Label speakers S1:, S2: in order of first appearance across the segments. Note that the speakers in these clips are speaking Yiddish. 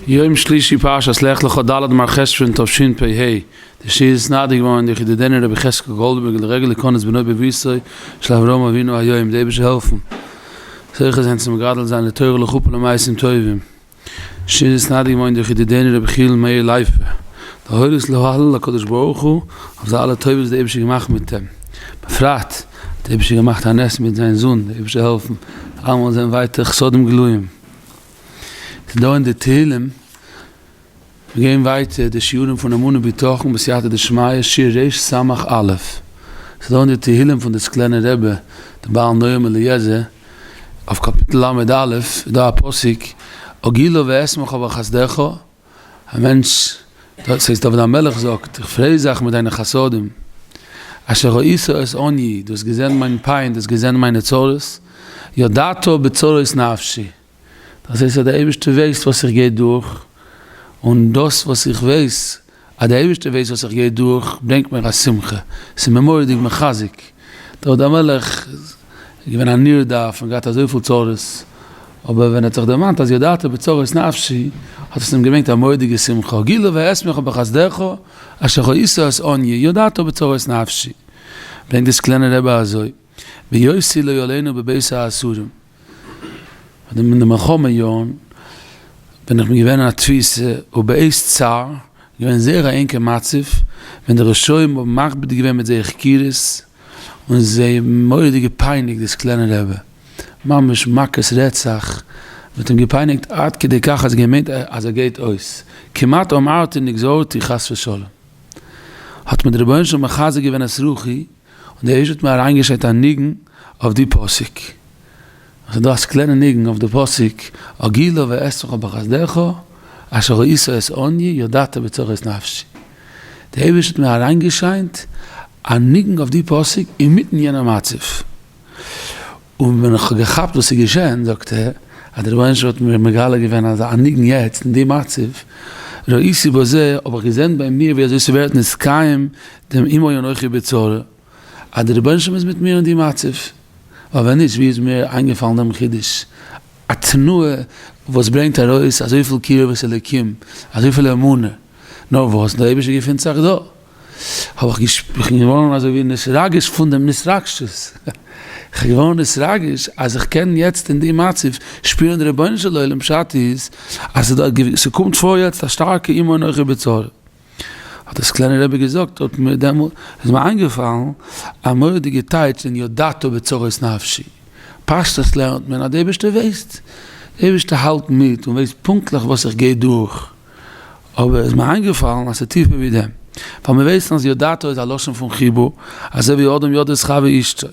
S1: יום שלישי פרשת לך לך ד' מר חשוון תשפ ה, די שיעור איז נעתר געווארן דורך ידידנו רבי חזקאל גאלדבערגער לרגל התכוננות בנו בביתו של אברהם אבינו היו אים די אייבערשטער העלפן זוכה זיין צו מגדל זיין לתורה לחופה ולמעשים טובים, די שיעור איז נעתר געווארן דורך ידידנו רבי חיל מאיר לייפער להורות להלל הקדוש ברוך הוא אויף די אלע טובות וואס די אייבערשטער האט געמאכט מיט אים, בפרט. האט דער אייבערשטער געמאכט א נס מיט זיין זון, דער אייבערשטער זאל העלפן אלעמאל זען ווייטער חסדים גלויים, ס'איז דא אין די תהלים, מיר גייען ווייטער די שיעורים פון אמונה בטחון בסייעתא דשמיא שיר ר' סמך א', ס'איז דא אין די תהלים פון די סקלענער רבי דער בעל נועם אליעזר, אויף קאפיטל לד א איז דא א פסוק, אגילו ואשמחו בחסדך, א מענטש, דאס הייסט דוד המלך זאגט, איך פריי זיך מיט דיינע חסדים, אשר ראית את עניי, דו האסט געזען מיין פיין, דו האסט געזען מיינע צרות, ידעת בצרות נפשי, דאס הייסט אז דער אייבערשטער ווייסט וואס איך גיי דורך, און דאס וואס איך ווייס אז דער אייבערשטער ווייסט וואס איך גיי דורך, ברענגט מיר א שמחה, ס'איז מיר מורא'דיג מחזק, דוד המלך איז געווען א נרדף און געהאט אזויפיל צרות, אבער ווען ער האט זיך דערמאנט אז ידעת בצרות נפשי, האט עס אים געברענגט א מורא'דיגע שמחה, גילו ואשמחה בחסדך אשר כעסו את עניי, ידעת בצרות נפשי, ברענגט דאס קליינע רבי אזוי. ויוסי לא ילינו בבית האסורים, אין די מלחמה יארן בין איך געווען אין א תפיסה ובעת צר, געווען זייער א ענקע מצב, ווען די רשעים האבן מכביד געווען מיט זייער הפקירות, און זיי מורא'דיג געפייניגט דאס קליינע רעבע, ממש מכות רצח, מ'האט אים געפייניגט עד כדי כך אז געמיינט אז ער גייט אויס, כמעט אמרתי נגזורתי חס ושלום, האט מיר דער רבונו של עולם מחזק געווען את רוחי, און דער איש האט מיר אריינגעשערט א ניגון אויף די פסוק, עס איז דא א סקלענע ניגון אויף די פסוק, אגילו ואעשוך בחסדך אשר ראית את עניי ידעת בצורת נפשי, דער אייבערשטער האט מיר אריינגעשיינט א ניגון אויף די פסוק אינמיטן יענער מצב. און ווען איך האב געכאפט וואס איז געשען, זאגט ער, אז דער רבונו של עולם האט מיר מגלה געווען אזא א ניגון יעצט אין די מצב, ראיתי בזה, האב איך געזען ביי מיר ווי אזוי ס'ווערט נתקיים דעם עמי אנכי בצרה, אז דער רבונו של עולם איז מיט מיר אין די מצב, ווייל ווען נישט ווי איז מיר איינגעפאלן דעם חידוש, א תנועה וואס ברענגט ארויס אזויפיל קירבת אליקים, אזויפיל אמונה, נאר וואס, דער אייבערשטער געפינט זיך דא. האב איך געש איך בין געווארן אזוי ווי נתרגש פון דעם נתרגשות, איך בין געווארן נתרגש אז איך קען יעצט אין די מצב שפירן די רבונו של עולם, פשט איז אז ס'איז דא א געוו ס'קומט פאר יעצט א שטארקע איום אנכי בצר, האט דאס קליינע רבי געזאגט האט מיר דעמאלט איז מיר איינגעפאלן א מורא'דיגע טייטש אין ידעתו בצרות נפשי, פשטות לערנט מען אז די אייבערשטער ווייסט, די אייבערשטער האלט מיט און ווייסט פונקטליך וואס איך גיי דורך. אבער איז מיר איינגעפאלן אז ס'איז טיפער ווי דעם, ווייל מיר ווייסן אז יודעתו איז א לשון פון חיבה, אזוי ווי אדם יודע את חבר אשתו.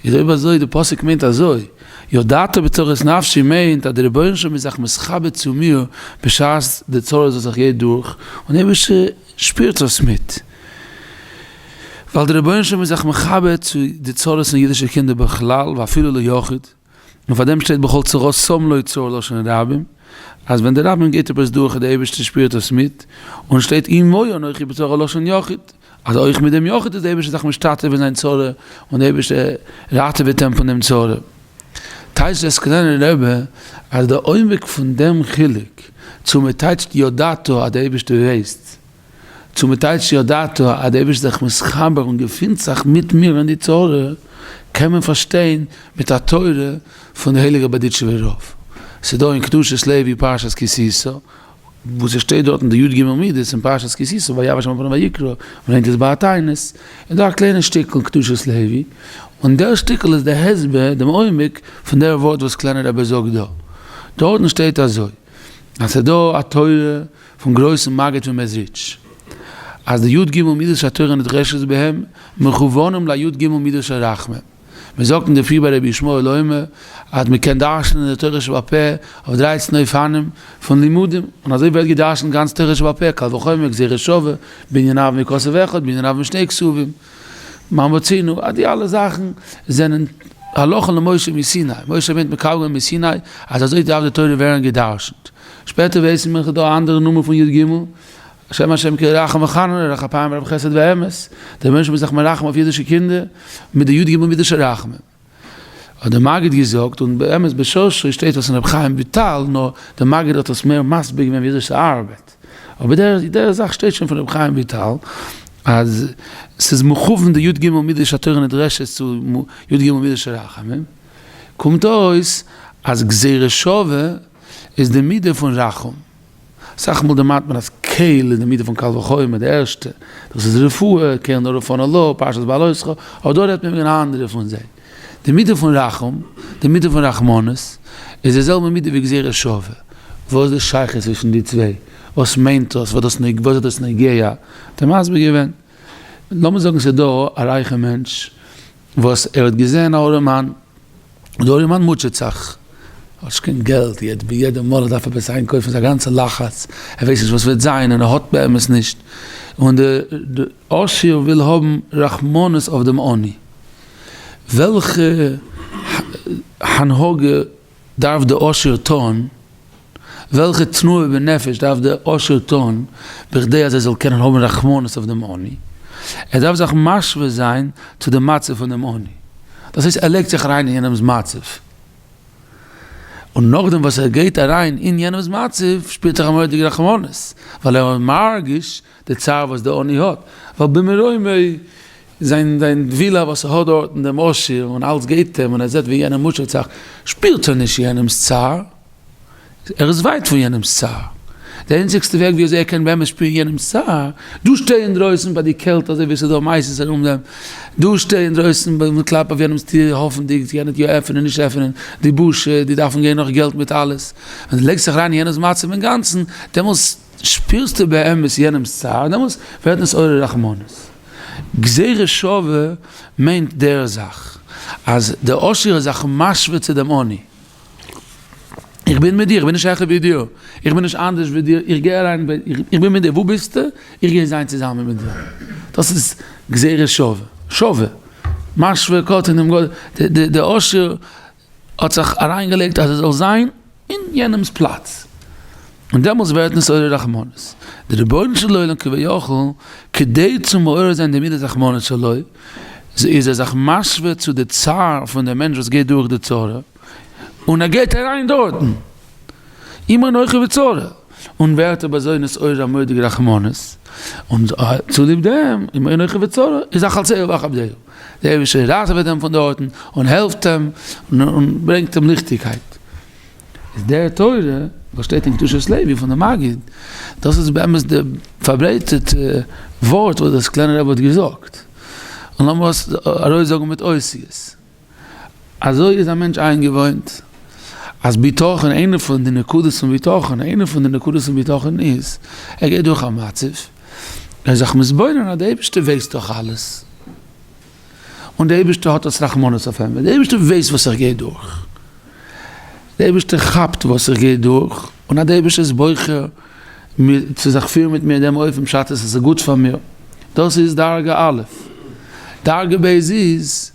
S1: איז אויב אזוי, די פסוק מיינט אזוי, יודעתו בצרות נפשי מיינט אז דער רבונו של עולם איז זיך מסכבד צו מיר בשעת די צרות וואס איך גיי דורך, און דער אייבערשטער שפירט עס מיט. ווייל דער רבונו של עולם איז זיך מכבד צו די צרות פון אידישע קינדער בכלל ואפילו ליחיד. און פאר דעם שטייט בכל צרה שם לוי צור לשון הרבים, אז ווען דער רבים געבט עפעס דורך און דער אייבערשטער שפירט עס מיט, און שטייט עמוי אנכי בצרה לשון יחיד, אז אויך מיט דעם יחיד איז דער אייבערשטער זיך משתתף אין זיין צרה און דער אייבערשטער ראטעוועט אים פון דעם צרה. טייטשט דער סקולענער רבי אז דער עומק פון דעם חילוק צו מען טייטשט ידעת אז דער אייבערשטער ווייסט, צו מען טייטשט ידעתו אז דער אייבערשטער איז זיך מתחבר און געפינט זיך מיט מיר אין די תורה, קען מען פארשטיין מיט א תורה פון די הייליגע בארדיטשובער רב. ס'איז דא אין קדושת לוי פרשת כי תשא, וואו ס'שטייט דארטן די י ג מידות אין פרשת כי תשא, ויבא שם אברהם ויקרא, מען לערנט עס ביי א תענית, איז דא א קליינע שטיקל קדושת לוי, און דער שטיקל איז דער הסבר, דעם עומק, פון דער ווארט וואס קליינער רבי זאגט דא. דארטן שטייט אזוי. אז ס'איז דא א תורה פון גרויסן מגיד פון מעזריטש אז די י ג מידות של התורה נדרשת בהם מכוונים לי' ג מידות של רחמים, מיר זאגן דערפיר ביי רבי ישמעאל אוימער אז מען קען דרש'נען די תורה שבעל פה אויף דרייצן אופנים פון לימודים, און אזוי ווערט געדרש'נט גאנץ תורה שבעל פה, קל וחומר גזירה שווה, בעניניו מכסף אחד בעניניו משני כסובים. מה מצינו, אז די אלע זאכן זענען הלכה למשה מסיני, משה רבינו האט מקבל געווען מסיני אז אזוי דארף די תורה ווערן גע'דרש'נט, שפעטער ווייסן מיר ס'דא א אנדערע נאמען פון י ג, השם השם כי רחום וחנון און רח אפיים רב חסד ואמת, דער רבונו של עולם איז זיך מרחם אויף אידישע קינדער מיט די י ג מידות של רחמים. האט דער מגיד געזאגט, און באמת בשרשו שטייט עס אין ר' חיים וויטאל, נאר דער מגיד האט עס מער מסביר געווען ווי אזוי ס'ארבעט, אבער דער דער זאך שטייט שוין פון ר' חיים וויטאל, אז ס'איז מכוון די י ג מידות של התורה נדרשת צו י ג מידות של רחמים, קומט אויס אז גזירה שווה איז די מידה פון רחום. אסאך מאל דערמאנט מען אז קל איז די מידה פון קל וחומר די ערשטע, דאס איז רפואה, קל נא רפא נא לו, פרשת בעלותך, אבער דא רעדט מען וועגן אן אנדערע פון זיי, די מידה פון רחום, די מידה פון רחמנות, איז די זעלבע מידה ווי גזירה שווה, וואס איז די שייכות צווישן די צוויי, וואס מיינט דאס, וואס איז דאס נוגע, האט ער מסביר געווען, לאמיר זאגן ס'איז דא א רייכע מענטש, וואס ער האט געזען א ארימאן, און די ארימאן מוטשעט זיך, ער האט נישט קיין געלט, יעצט ביי יעדע מאל ער דארף עפעס איינקויפן איז א גאנצע לחץ, ער ווייסט נישט וואס וועט זיין, און ער האט באמת נישט, און די עשיר וויל האבן רחמנות אויף דעם עני, וועלכע הנהגה דארף די עושר טון? וועלכע תנועה בנפש דארף די עושר טון בכדי אז ער זאל קענען האבן רחמנות אויף דעם עני? ער דארף זיך משווה זיין צו די מצב פון דעם עני, דאס הייסט ער לייגט זיך אריין אין יענעמ'ס מצב, און נאכדעם וואס ער גייט אריין אין יענעמ'ס מצב שפירט ער א מורא'דיגע רחמנות, ווייל ער מרגיש די צער וואס די עני האט, ווייל במרומי זיין זיין ווילא וואס ער האט דארט און דעם עשיר און אלץ געבט אים און ער זעט ווי יענער מוטשעט זיך, שפירט ער נישט יענעמ'ס צער, ער איז ווייט פון יענעמ'ס צער. די איינציגסטע וועג ווי אזוי ער קען באמת שפירן יענעמ'ס צער, דא שטיי אינדרויסן ביי די קעלט אזוי ווי עס איז דא מייסעס ארום דעם, דא שטיי אינדרויסן און קלאפ אויף יענעמ'ס טיר האפנדיג צו יענער טוה עפענען נישט עפענען, די בושה, די דארפן גיין נאך געלט מיט אלעס, ווען די לייגסט זיך אריין אין יענער'ס מצב אינגאנצן, דעמאלס. שפירסטו באמת יענעמ'ס צער, דעמאלטס ווערט דאס אור הרחמנות. גזירה שווה מיינט דער זאך אז דער עשיר איז זיך משווה צו דעם עני. איך בין מיט דיר, איך בין נישט העכער ווי דיר, איך בין נישט אנדערש ווי דיר, איך גיי אריין, איך בין מיט דיר, וואו ביסטו? איך גיי זיין צוזאמען מיט דיר. דאס איז גזירה שווה, שווה, משווה קטן דעם גדול, דער עשיר האט זיך אריינגעלייגט אז ער זאל זיין אין יענעמס פלאץ, און דעמאלס ווערט עס אור הרחמנות. דער רבונו של עולם כביכול כדי צו מעורר זיין די מידת רחמנות שלו, איז ער זיך משווה צו די צער פון די מענטש וואס גייט דורך די צרה, און ער גייט אריין דארטן, אם אנכי בצרה, און ווערט אויף אזוי נשאר א מודע רחמנות, און צוליב דעם אם אנכי בצרה איז אכלתיהו ואכבדהו. דער אייבערשטער ראטעוועט אים פון דארטן און העלפט אים און ברענגט אים ליכטיגקייט. איז דער תורה וואס שטייט אין קדושת לוי פון די מגיד, דאס איז באמת די פארברייטערטע ווארט וואס דאס קליינע רבי האט געזאגט, און לאמיר עס ארויסזאגן מיט אותיות. אזוי איז א מענטש איינגעוואוינט אז בטחון, איינע פון די נקודות פון בטחון, איינע פון די נקודות פון בטחון איז ער גייט דורך א מצב, ער איז זיך מתבונן אז דער אייבערשטער ווייסט דאך אלעס, און דער אייבערשטער האט אויס רחמנות אויף אים, דער אייבערשטער ווייסט וואס איך גיי דורך, דער אייבערשטער כאפט וואס איך גיי דורך, און אז דער אייבערשטער איז בוחר צו זיך פירן מיט מיר אין דעם אופן בשעת עס איז גוט פאר מיר, דאס איז דרגה א'. דרגה ב' איז,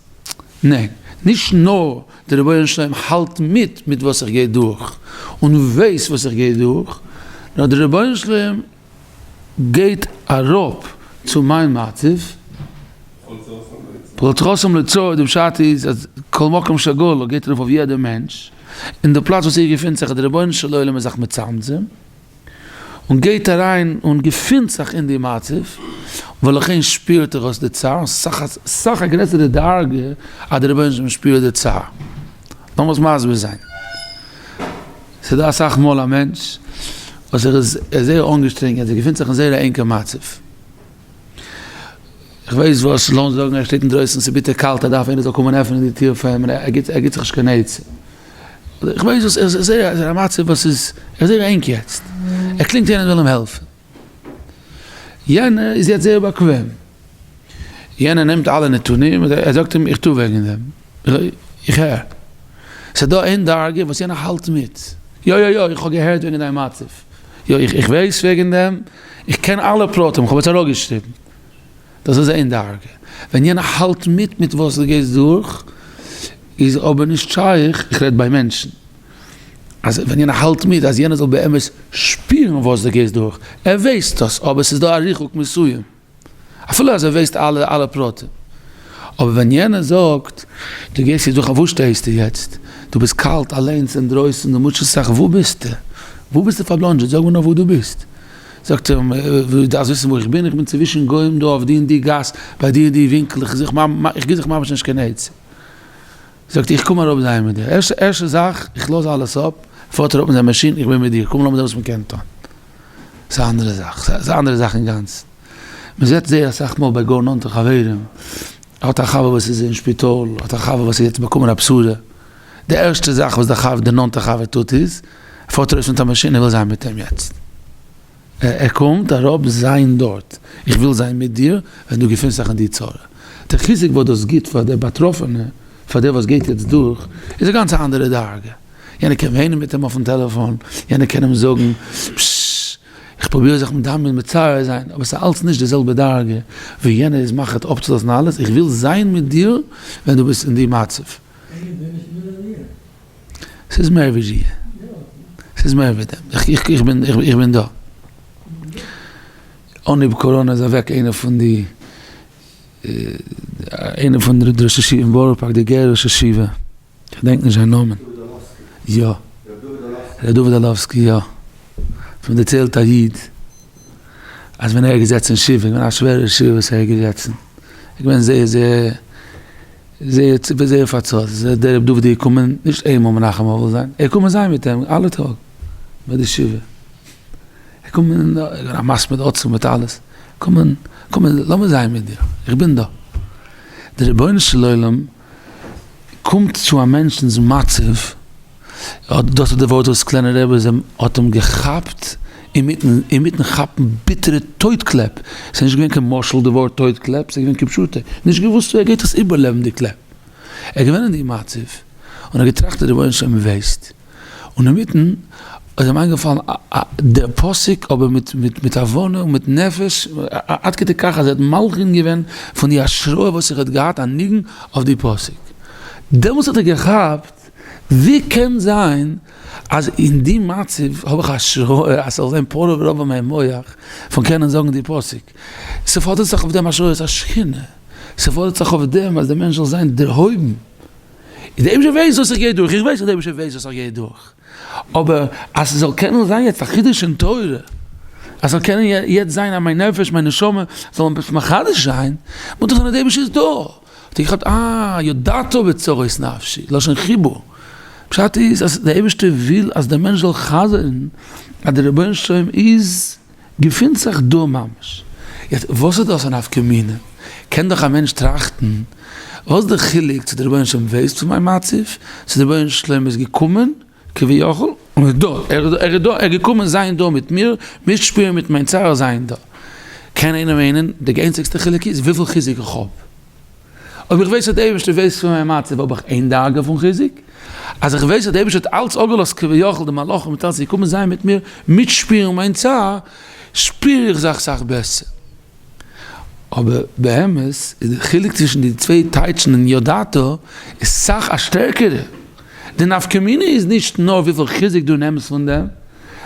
S1: ניין, נישט נאר דער רבונו של עולם האלט מיט מיט וואס איך גיי דורך און ווייסט וואס איך גיי דורך, נאר דער רבונו של עולם, גייט אראפ צו מיין מצב, פלץ חסום לצור, די פשט איז אז כל מקום שגור גייט ארויף אויף יעדע מענטש, און די פלאץ וואס איר געפינט זיך איז די רבונו של עולם איז זיך מצמצם, און גייט אריין און געפינט זיך אין די מצב, ולכן שפירט ער אויס די צער, סאך סאך א גרעסערע דרגה אז די רבונו של עולם שפירט די צער, לאמיר עס מסביר זיין. ס'איז דא אסאך מאל א מענטש וואס ער איז זייער אנגעשטרענגען, ער געפינט זיך אין זייער א ענקע מצב, איך ווייס וואס, לאמיר זאגן ער שטייט אינדרויסן ס'איז ביטער קאלט ער דארף איינער זאל קומען עפענען די טיר פאר אים און ער גיבט זיך נישט קיין עצה, איך ווייס וואס, ער איז זייער א מצב וואס איז, ער איז זייער ענק יעצט, ער קלינגט איינער זאל אים העלפן. יענער איז יעצט זייער באקוועם, יענער נעמט אלע נתונים, ער זאגט אים איך טוה וועגן דעם, איך הער, ס'דא איין דרגה וואס יענער האלט מיט, יא יא יא איך האב געהערט וועגן דיין מצב, יא איך איך ווייס וועגן דעם, איך קען אלע פרטים, כ'האב עס אראפגעשריבן, דאס איז איין דרגה, ווען יענער האלט מיט מיט וואס דו גייסט דורך, איז אבער נישט שייך, איך רעד ביי מענטשן. אז ווען יענער האלט מיט אז יענער זאל באמת שפירן וואס דו גייסט דורך, ער ווייסט דאס אבער ס'איז דא א ריחוק מסוים אפילו אז ער ווייסט אלע אלע פרטים, אבער ווען יענער זאגט דו גייסט יעצט דורך, אויף וואס שטייסטו יעצט? דו ביסט קאלט אליינס אינדרויסן, דו מוטשעסט זיך, וואו ביסטו? וואו ביסטו פארבלאנדזשעט? זאג מיר נאר וואו דו ביסט? זאגט ער, דו דארפסט וויסן וואו איך בין? איך בין צווישן גוים דא אויף די און די גאס, ביי די און די ווינקל, איך זוך איך גיב זיך ממש נישט קיין עצה. זאגט איך קום אראפ זיי מיט דיר ערשט ערשטע זאך איך לאז אלעס אפ פארט ער אפ מיט זיין מאשין איך בין מיט דיר קום לאמיר זען וואס מען קען טון ס'איז א אנדערע זאך ס'איז א אנדערע זאך אינגאנצן מען זעט זייער אסאך מאל ביי גאר נאנטע חברים האט א חבר וואס איז אין שפיטאל האט א חבר וואס האט יעצט באקומען א בשורה די ערשטע זאך וואס די חבר די נאנטע חבר טוט איז ער פארט ארויס מיט א מאשין ער וויל זיין מיט אים יעצט. ער קומט אראפ זיין דארט, איך וויל זיין מיט דיר ווען דו געפונסט זיך אין די צרה. די חיזוק וואס דאס גיבט פאר די באטראפענע, פאר דער וואס גייט יעצט דורך, איז א גאנץ אנדערע דרגה. יענער קען וויינען מיט אים אויפן טעלעפאן, יענער קען אים זאגן, פששש, איך פרוביר זיך מדמיין מצער זיין, אבער עס איז אלץ נישט די זעלבע דרגה ווי יענער איז מחליט אפצולאזן אלעס, איך וויל זיין מיט דיר ווען דו ביסט אין די מצב. ס'איז מער ווי זי. ס'איז מער ווי דעם. איך בין, איך בין דא. אנהייב קאראנע איז אוועק איינער פון די, איינער פון די ראשי ישיבה אין בארא פארק, די גערע ראש ישיבה. כ'דענק נישט זיין נאמען. יא. ר' דוד אלאווסקי, יא. ס'האט מיר דערציילט א איד, אז ווען ער איז געזעצן אין שבעה, א שווערע שבעה וואס ער איז געזעצן. איז געווען זייער זייער. זעהט צו ווי זייער פארצאלט איז ער, דער ר' דוד איז געקומען, נישט איינמאל מנחם אבל זיין, ער איז געקומען זיין מיט אים אלע טאג ביי די שבעה, ער איז געקומען ער איז געווען א מספיד עצום מיט אלעס, קום קום לאמיר זיין מיט דיר, איך בין דא. דער רבונו של עולם קומט צו א מענטשנ'ס מצב, דאס איז די ווארט וואס קליינע רבי זי ע האט אים געכאפט אינמיטן כאפן ביטערע טויט קלעפ, ס'איז נישט געווען קיין משל די ווארט טויט קלעפ, ס'איז געווען כפשוטו, נישט געוואוסט צו ער גייט דאס איבערלעבן די קלעפ, ער איז געווען אין די מצב און ער האט געטראכט רבונו של עולם ווי וועסט, און אינמיטן איז אים איינגעפאלן די פסוק אבער מיט הבנה און מיט נפש עד כדי כך אז ער האט מלחין געווען פון די השראה וואס ער האט געהאט א ניגון אויף די פסוק, דעמאלס האט ער געכאפט. ווי קען זיין אז אין די מצב האב איך השראה אז ס'זאל זיין פרוע ורבו מיין מוח פון קענען זאגן די פסוק? ס'פאדערט זיך אויף דעם השראת השכינה, ס'פאדערט זיך אויף דעם אז דער מענטש זאל זיין דערהויבן, און דער אייבערשטער ווייסט וואס איך גיי דורך, איך ווייס אז דער אייבערשטער ווייסט וואס איך גיי דורך, אבער אז ס'זאל קענען זיין יעצט א חידוש אין תורה, אז ס'זאל קענען יעצט זיין אז מיין נפש, מיין נשמה, זאלן עפעס מחדש זיין, מוז דאך זיין אז דער אייבערשטער איז דא. האט ער געכאפט אה ידעתו בצרות נפשי, לשון חיבור, פשט איז אז די אייבערשטער וויל אז דער מענטש זאל חזר'ן אז דער רבונו של עולם איז געפינט זיך דא ממש, יעצט וואס האט דאס א נפקא מינה, קען דאך א מענטש טראכטן וואס איז די חילוק צו דער רבונו של עולם ווייסט פון מיין מצב, צו דער רבונו של עולם איז געקומען כביכול, און ער איז דא, ער איז דא, ער איז געקומען זיין דא מיט מיר, מיטשפירן מיט מיין צער זיין דא. קען איינער מיינען, די איינציגסטע חילוק איז וויפיל חיזוק איך האב. אויב איך ווייס אז דער אייבערשטער ווייסט פון מיין מצב האב איך איין דרגה פון חיזוק, אז איך ווייס אז דער אייבערשטער האט אלץ אפגעלאזט כביכול די מלאכים מיט אלץ צו קומען זיין מיט מיר, מיטשפירן מיין צער, שפיר איך זיך סאך בעסער. אבער באמת איז די חילוק צווישן די צוויי טייטשן אין ידעת איז סאך א שטערקערע. די נפקא מינה איז נישט נאר וויפיל חיזוק דו נעמסט פון דעם,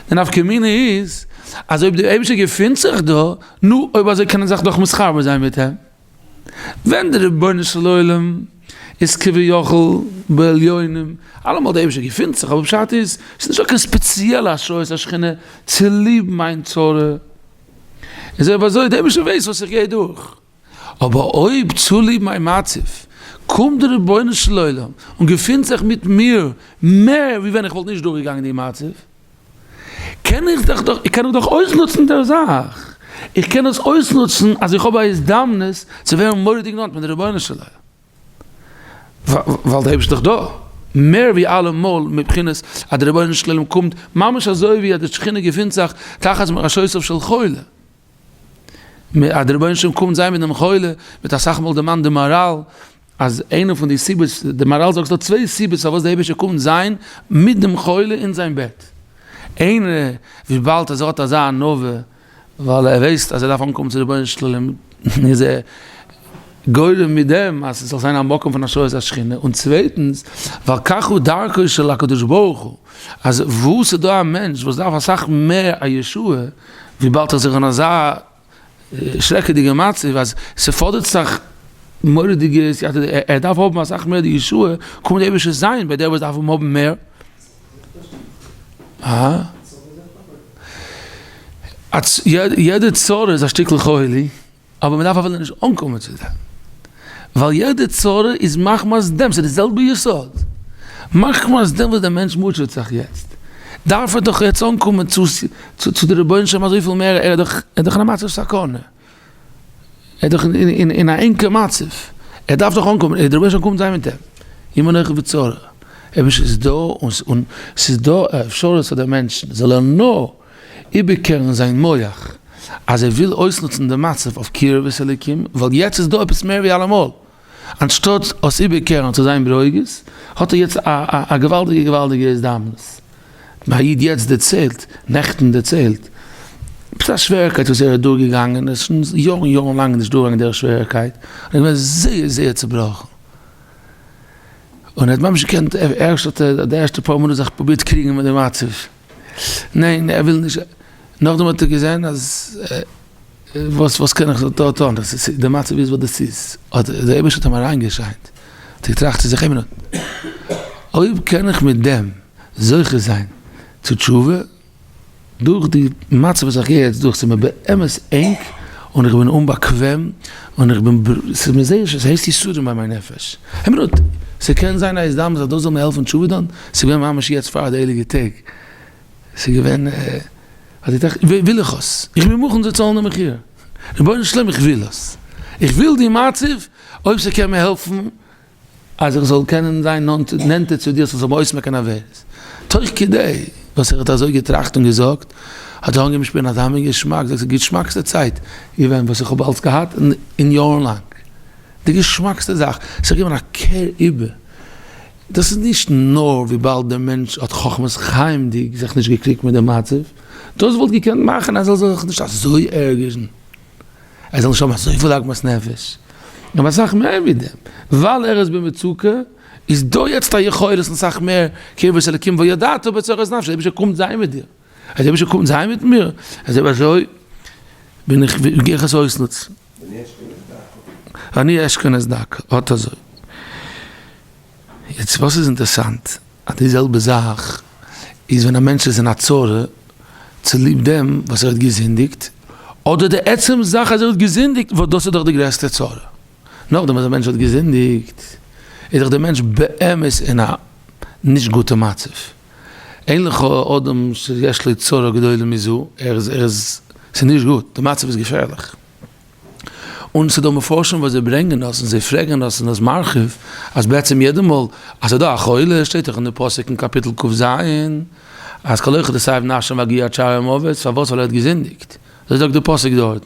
S1: די נפקא מינה איז אז אויב דער אייבערשטער געפינט זיך דא, נו, אויב אזוי קען איך זיך דאך מתחבר זיין מיט אים. ווען דער רבונו של עולם איז כביכול בעליונים, אלעמאל דער אייבערשטער געפינט זיך, אבער פשט איז, עס איז נישטא קיין ספעציעלע השראת השכינה צוליב מיין צרה. איז אויב אזוי, דער אייבערשטער ווייסט וואס איך גיי דורך. אבער אויב צוליב מיין מצב קומט דער רבונו של עולם און געפינט זיך מיט מיר מער ווי ווען איך וואלט נישט דורכגעגאנגען די מצב, קען איך דאך דאך קען איך דאך אויסנוצן דער זאך, איך קען דאס אויסנוצן אז איך האב א הזדמנות צו ווערן מורא'דיג נאנט מיט דער רבונו של עולם, ווייל דער אייבערשטער איז דאך דא מער ווי אלעמאל מבחינת אז דער רבונו של עולם קומט ממש אזוי ווי אז די שכינה געפינט זיך תחת מרשעותיו של חולה. אז דער רבונו של עולם קומט זיי מיט דעם חולה, וועט אסאך מאל דערמאנט די מאראל, אז איינע פון די סיבות, די מאראל זאגט ס'דא צוויי סיבות פארוואס דער אייבערשטער קומט זיין מיט דעם חולה אין זיין בעט. איינע, וויבאלד אז ער האט אזא ענווה, ווייל ער ווייסט אז ער דארף אנקומען צו דער רבונו של עולם, איז ער גורם מיט דעם אז ס'זאל זיין א מקום פון השראת השכינה, און צווייטנס, ווייל כך הוא דרכו של הקדוש ברוך הוא, אז וואו ס'דא א מענטש וואס דארף אסאך מער א ישועה, וויבאלד איך זיך אין אזא שרעקעדיגע מצב אז ס'פאדערט זיך מורא'דיגע סייעתא ד, ער דארף האבן אסאך מער די ישועה, קומט דער אייבערשטער זיין ביי דער וואס דארף אים האבן מער. יעדע צרה איז א שטיקל חולי. אבער מ'דארף אפילו נישט אנקומען צו דעם, ווייל יעדע צרה איז מחמת דעם, ס'איז די זעלבע יסוד, מחמת דעם וואס דער מענטש מוטשעט זיך יעצט, דארף ער דאך יעצט אנקומען צו די רבונו של עולם אזויפיל מער, ער איז דאך אין א מצב סכנה, ער איז דאך אין א ענקער מצב, ער דארף דאך אנקומען, און דער רבונו של עולם קומט זיין מיט אים, אם אנכי בצרה, אויב נישט איז דא, און ס'איז דא א אפשרות אז דער מענטש זאל ער נאר איבערקערן זיין מוח אז ער וויל אויסנוצן די מצב אויף קירבת אלוקים ווייל יעצט איז דא עפעס מער ווי אלעמאל, אנשטאט עס איבערקערן צו זיין ברוגז האט ער יעצט א געוואלדיגע געוואלדיגע הזדמנות. מיר א איד יעצט דערציילט, נעכטן דערציילט, עפעס א שווערקייט וואס ער איז אדורגעגאנגען, ער איז שוין יארן יארן לאנג נישט דורגעגאנגען דער שווערקייט, ער איז געווען זייער זייער צובראכן, און ער האט ממש געקענט, ערשט האט ער די ערשטע פאר מינוט זיך פרובירט קריגן מיט די מצב, ניין ער וויל נישט, נאכדעם האט ער געזען אז וואס וואס קען איך דא טון, די מצב איז וואס דאס איז, האט דער אייבערשטער האט אים אריינגעשיינט, האט ער געטראכט צו זיך איין מינוט, אויב קען איך מיט דעם זוכה זיין צו תשובה, דורך די מצב וואס איך גיי יעצט דורך, ס'איז מיר באמת ענג און איך בין אומבאקוועם, און איך בין, ס'איז מיר זייער שווער, ס'הייסט יסורים ביי מיין נפש, איין מינוט, ס'קען זיין א הזדמנות אז דאס זאל מיר העלפן תשובה טון, ס'איז געווען ממש יעצט פאר די הייליגע טעג, ס'איז געווען אז איך דאכט וויל איך עס, איך בין מוכן צו צאלן די מחיר, רבונו של עולם איך וויל עס, איך וויל די מצב, אויב ס'קען מיר העלפן אז איך זאל קענען זיין נענטער צו דיר, ס'זאל מיר אויסמעקן עבירות, תוך כדי וואס ער האט אזוי געטראכט און געזאגט, האט ער אנגעהויבן שפירן אזא מין געשמאק, זאגסט די געשמאקסטע צייט געווען וואס איך האב אלץ געהאט אין יארן לאנג, די געשמאקסטע זאך, ס'איז געווען א קער איבער. דאס איז נישט נאר וויבאלד דער מענטש האט חכמת חיים'דיג זיך נישט געקריגט מיט דעם מצב, דאס וואלט געקענט מאכן אז ער זאל זיך נישט אזוי ערגערן, ער זאל נישט האבן אזויפיל עגמת נפש, נאר אסאך מער ווי דעם, ווייל ער איז במצוקה, איז דא יעצט א יכולת און אסאך מער קרבת אלקים וידעת בצרות נפשו, דער אייבערשטער קומט זיין מיט דיר. אז אבישע קומט זיין מיט מיר, אז אויב אזוי בין איך, גיי איך עס אויסנוצן. ואני אשכון את דרכו, אט אזוי. יעצט וואס איז אינטערסאנט, אז די זעלבע זאך איז ווען א מענטש איז אין א צרה צוליב דעם וואס ער האט געזינדיגט, אדער די עצם זאך אז ער האט געזינדיגט, וואס דאס איז דאך די גרעסטע צרה. נאכדעם אז א מענטש האט געזינדיגט, איז דאך דער מענטש באמת אין א נישט גוטע מצב. אין לך אדם שיש לו צרה גדולה מזו, ער איז, ער איז, ס'איז נישט גוט, די מצב איז געפערליך. און ס'דא מפרשים וואס זיי ברענגען אויס און זיי פרעגען אויס און אויס מרחיב, אז בעצם יעדע מאל אז ס'איז דא א חולה, שטייט דאך אין די פסוק אין קאפיטל קו ז, אז כל אחד עשב נפשו מגיע עד שערי המוות, פארוואס? ווייל ער האט געזינדיגט. אזוי זאגט די פסוק דארטן.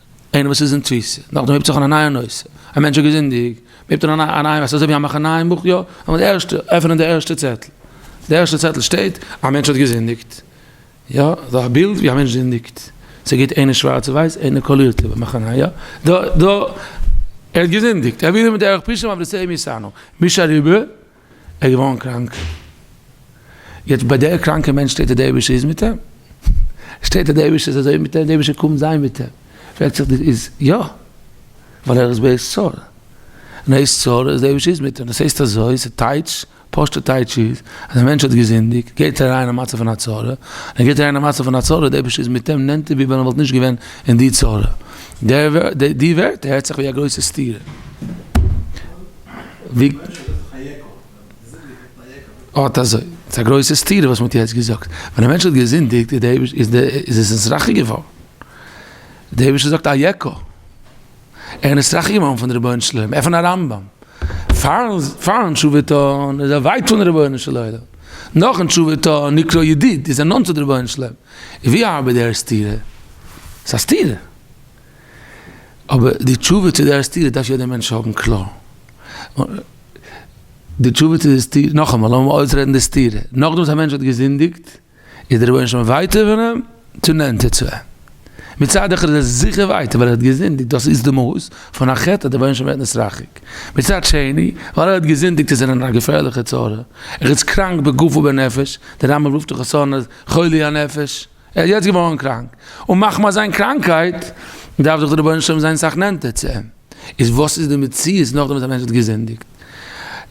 S1: איינער וואס איז אין תפיסה, נאכדעם הייבט זיך אן א נייע נושא, א מענטש האט געזינדיגט, מען הייבט אן א נייע נושא, אזוי ווי א מאכן נייעם בוך, יא, נאר די ערשטע, עפענען די ערשטע צעטל, די ערשטע צעטל שטייט, א מענטש האט געזינדיגט, יא, דא א בילד ווי א מענטש זינדיגט, ס'איז גוט איינער שווארץ און ווייס, איינער קאלירט איבער, מאכן א נייע, דא, דא, ער האט געזינדיגט, ער האט ווידער מיט דער ערוך פישא מבריסעי מיסאנא, מיש אריבער. ער איז געווארן קראנק. יעצט ביי דער קראנקע מענטש שטייט אז דער אייבערשטער איז מיט אים. שטייט אז דער אייבערשטער איז אזוי מיט אים, דער אייבערשטער קומט זיין מיט אים. פרעגט זיך די איז יא. ווייל ער איז בעת צרה. אין עת צרה איז דער אייבערשטער איז מיט אים. דאס הייסט אזוי, ס'טייטש, פשוט'ע טייטש איז, אז א מענטש האט געזינדיגט, גייט ער אריין אין א מצב פון א צרה, און ער גייט אריין אין א מצב פון א צרה, דער אייבערשטער איז מיט אים נענטער ווי ווען ער וואלט נישט געווען אין די צרה. די ווערטער הערט זיך ווי א גרויסע סתירה. אָט אַזױ. ס'איז אַ גרױסע סתּירה, װאָס מע האָט יעצט געזאָגט. װען אַ מענטש האָט געזינדיקט, איז דער אײביש איז דער איז עס נסראַכע געװאָרן. דער אײבישטער זאָגט אַ יקע. ער איז נסראַכע געװאָרן פֿון דער רבונו-של-עולם. עפֿן אַ רמב ם. פֿאַרן פֿאַרן תּשובֿה טאָן, איז ער װײַט פֿון רבונו-של-עולם. נאָכן תּשובֿה טאָן, נקרא ידיד, איז ער נאָנט צו דער רבונו-של-עולם. װי אַרבעט דער סתּירה? ס'איז אַ סתּירה. אבער די תשובה צו דער סתירה דארף יעדער מענטש האבן קלאר. די תשובה צו די סתירה, נאכאמאל לאמיר אויסרעדן די סתירה, נאכדעם וואס א מענטש האט געזינדיגט איז דער רבונו של עולם ווייטער פון אים צו נענטער צו אים? מצד אחד איז ער זיכער ווייטער ווייל ער האט געזינדיגט, דאס איז די מהות פון א חטא אז דער רבונו של עולם ווערט נתרחק, מצד שני ווייל ער האט געזינדיגט איז ער אין א געפערליכע צרה, ער איז קראנק בגוף ובנפש, דער רמב ם רופט דאך חסרון אז חולי הנפש. ער איז יעצט געווארן קראנק, און מחמת זיין קראנקייט דארף דאך דער רבונו של עולם זיין סאך נענטער צו אים, איז וואס איז די מציאות נאכדעם וואס א מענטש האט געזינדיגט?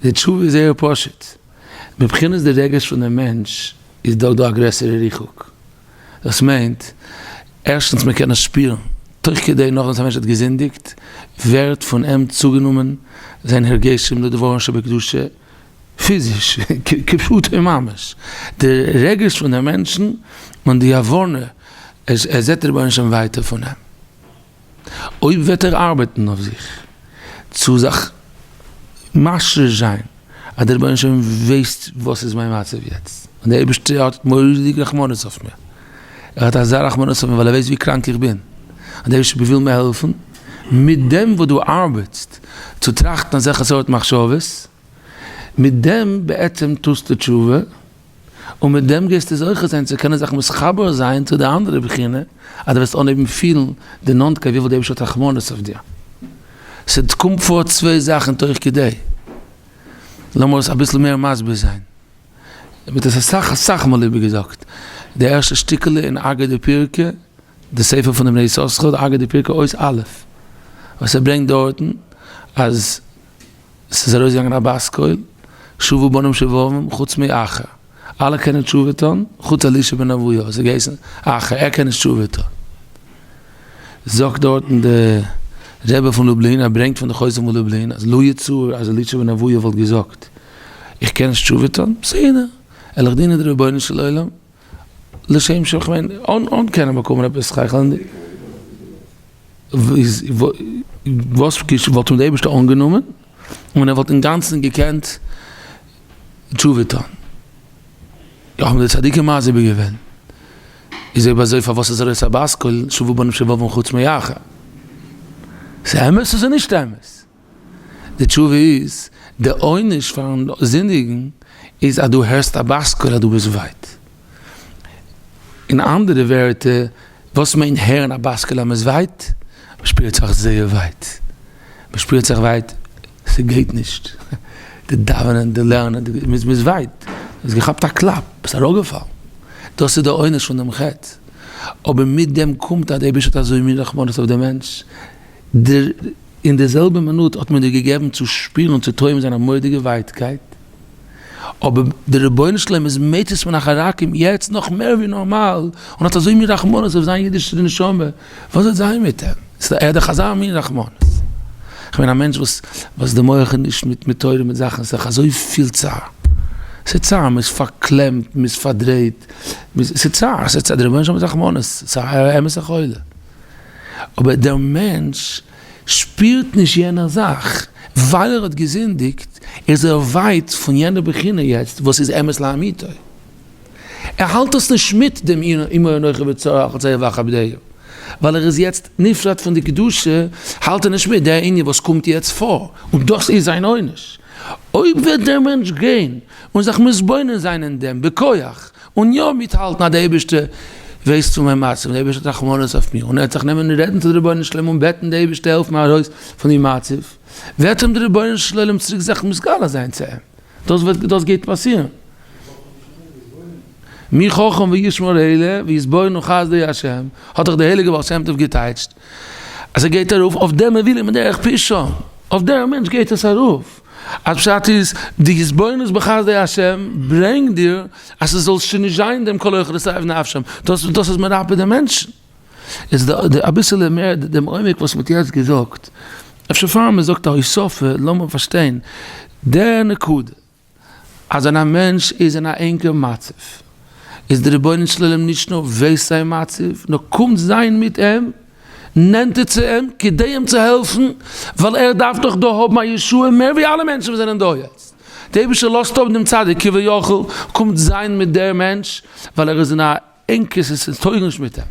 S1: די תשובה איז זייער פשוט, מבחינת די רגש פון דעם מענטש איז דאך דא א גרעסערע ריחוק, דאס מיינט, ערשטנס מען קען עס שפירן, תוך כדי נאכדעם וואס א מענטש האט געזינדיגט ווערט פון אים צוגענומען זיין הרגשים לדברו של בקדושה, פיזיש, כפשוטו ממש, די רגש פון די מענטשן און די הבנה אז ער זעט רבונו של עולם ווייטער פון אים, אויב וועט ער ארבעטן אויף זיך צו זיך משריש זיין אז דער רבונו של עולם ווייסט וואס איז מיין מצב יעצט, און דער אייבערשטער האט מורא'דיג רחמנות אויף מיר, ער האט אזא רחמנות אויף מיר ווייל ער ווייסט ווי קראנק איך בין, און דער אייבערשטער וויל מיר העלפן, מיט דעם וואס דו ארבעטסט צו טראכטן אזעלכע סארט מחשבות, מיט דעם בעצם טוסטו תשובה, און מיט דעם גייסטו זוכה זיין צו קענען זיך מתחבר זיין צו די אנדערע בחינה, אז דו וועסט אנהייבן פילן די נאנטקייט וויפיל די אייבערשטער האט רחמנות אויף דיר. ס'קומט פאר צוויי זאכן תוך כדי. לאמיר עס אביסל מער מסביר זיין. מ'האט עס אסאך אסאך מאל איבערגעזאגט. די ערשטע שטיקעלע אין אגר די פירקא, די ספר פון די בני יששכר, אגר די פירקא אות א', וואס ער ברענגט דארטן אז, עס איז ארויסגעגאנגען א בת קול, שובו בנים שובבים, חוץ מאחר. אלע קענען תשובה טון, חוץ אלישע בן אבויה, וואס איז געהייסן אחר, ער קען נישט תשובה טון. זאגט דארטן די רבי פון לובלין, ער ברענגט פון די חוזה מלובלין, אז לו יצוייר אז אלישע בן אבויה וואלט געזאגט, איך קען נישט תשובה טון, בסדר, עלעך דינען די רבונו של עולם. לשם שמים, כ'מיין, אן קענען באקומען עפעס שכל'דיג, וואס וואלט אים דער אייבערשטער אנגענומען און ער וואלט אינגאנצן געקענט תשובה טון? האבן די צדיקים מסביר געווען, איז אויב אזוי פארוואס איז ער אויס א בת קול, שובו בנים שובבים חוץ מאחד? ס'איז אמת אדער נישט אמת? די תשובה איז, די עונש פארן זינדיגן איז אז דו הערסט א בת קול אז דו ביסט ווייט. אין אנדערע ווערטער, וואס מיינט הערן א בת קול אז מ'איז ווייט? מ'שפירט זיך זייער ווייט. מ'שפירט זיך ווייט, ס'גייט נישט. די דאווענען, די לערנען, די, מ'איז ווייט. מ'האט געכאפט א קלאפ, ביסט אראפגעפאלן. דאס איז די עונש פון דעם חטא. אבער מיט דעם קומט אז דער אייבערשטער האט אזוי מין רחמנות אויף דעם מענטש. דיר אין די זעלבע מינוט האט מען דיר געגעבן צו שפירן און צו טועם זיין א מורא'דיגע ווייטקייט, אבער דער רבונו של עולם איז מציץ פון אחר רחמים יעצט נאך מער ווי נארמאל, און האט אזוי מין רחמנות אויף זיין אידישע נשמה, וואס וועט זיין מיט אים? ער האט דאך אזא מין רחמנות. איך בין א מענטש וואס וואס די מח איז נישט מיט מיט תורה מיט זאכן, ס'דאך אזויפיל צער, ס'איז צער, מ'איז פארקלעמט, מ'איז פארדרייט, ס'איז צער, ס'איז צער, דער רבונו של עולם האט רחמנות, ס'איז א אמת'ע חולה. אבער דער מענטש שפירט נישט יענער זאך, ווייל ער האט געזינדיגט איז ער ווייט פון יענע בחינה יעצט וואס איז אמת לאמיתו, ער האלט עס נישט מיט דעם אם היה נוחה בצרה אחת זיעה ואחת בדעה, ווייל ער איז יעצט נפרד פון די קדושה האלט ער נישט מיט דער ענין וואס קומט יעצט פאר, און דאס איז זיין עונש. אויב וועט דער מענטש גיין און זיך מתבונן זיין אין דעם בכח און יא מיטהאלטן אז דער אייבערשטער ווייסט פון מיין מצב און דער אייבערשטער האט רחמנות אויף מיר און ער וועט זיך נעמען און רעדן צו דער רבונו של עולם און בעטן דער אייבערשטער העלף מיר ארויס פון די מצב, וועט אים דער רבונו של עולם צוריק זיך מסגלה זיין צו אים, דאס וועט דאס גייט פאסירן. מי חכם וישמור אלה ויסבורנו חסדי ה', האט דאך דער הייליגער בעל שם טוב געטייטשט אז ער גייט ארויף אויף דעם ער וויל אים דרך פשע, אויף דעם מענטש גייט עס ארויף. א פשט איז, די התבוננות בחסדי ה' ברענגט דיר אז ס'זאל שוין נישט זיין דעם כל הולך לשרף נפשם, דאס דאס איז מרפא דעם מענטשן. איז די די אביסעלע מער דעם עומק וואס מ'האט יעצט געזאגט, אפשר פאר מ'זאגט א הוספה לאמיר פארשטיין די נקודה, אז ווען א מענטש איז אין א ענגע מצב, איז די רבונו של עולם נישט נאר וויסט זיין מצב, נאר קומט זיין מיט אים. נענטער צו אים כדי אים צו העלפן, ווייל ער דארף דאך דא האבן א ישועה מער ווי אלע מענטשן וואס זענען דא יעצט. דער אייבערשטער לאזט אפ דעם צדיק כביכול, קומט זיין מיט דער מענטש, ווייל ער איז אין א ענקער סיטואציע, עס טויג נישט מיט אים.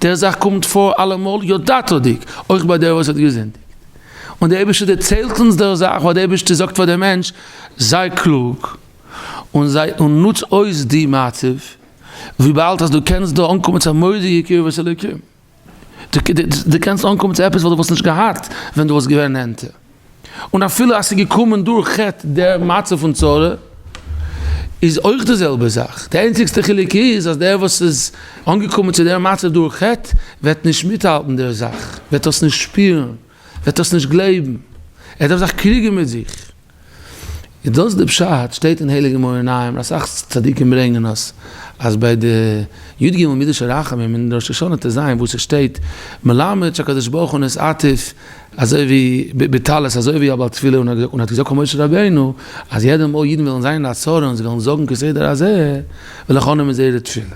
S1: דער זאך קומט פאר אלעמאל ידעתו'דיג, אויך ביי דער וואס האט געזינדיגט. און דער אייבערשטער דערציילט אונז דער זאך, ווייל דער אייבערשטער זאגט פאר דעם מענטש, זיי קלוג, און זיי און נוץ אויס די מצב, וויבאלד אז דו קענסט דא אנקומען צו א מורא'דיגע קרבת אלוקים. דו קענסט אנקומען צו עפעס וואס דו וואלסט נישט געהאט ווען דו וואלסט געווען נענטער, און אפילו אז ס'איז געקומען דורך חטא די מצב פון צרה, איז אויך די זעלבע זאך, די איינציגסטע חילוק איז אז דער וואס איז אנגעקומען צו די מצב דורך חטא וועט נישט מיטהאלטן די זאך, וועט דאס נישט שפירן, וועט דאס נישט גלייבן, ער דארף זיך קריגן מיט זיך. איז דאס די פשט? שטייט אין הייליגע מאור עיניים, אסאך צדיקים ברענגען עס, אז ביי די י ג מידות הרחמים אין ראש השנה ט ז וואו ס'שטייט מלמד שהקדוש ברוך הוא נס עטיף אזוי ווי בטלית אזוי ווי א בעל תפילה און האט געזאגט פאר משה רבינו אז יעדע מאל אידן וועלן זיין אין א צרה און זיי וועלן זאגן כסדר הזה ולחנם איז זייערע תפילה.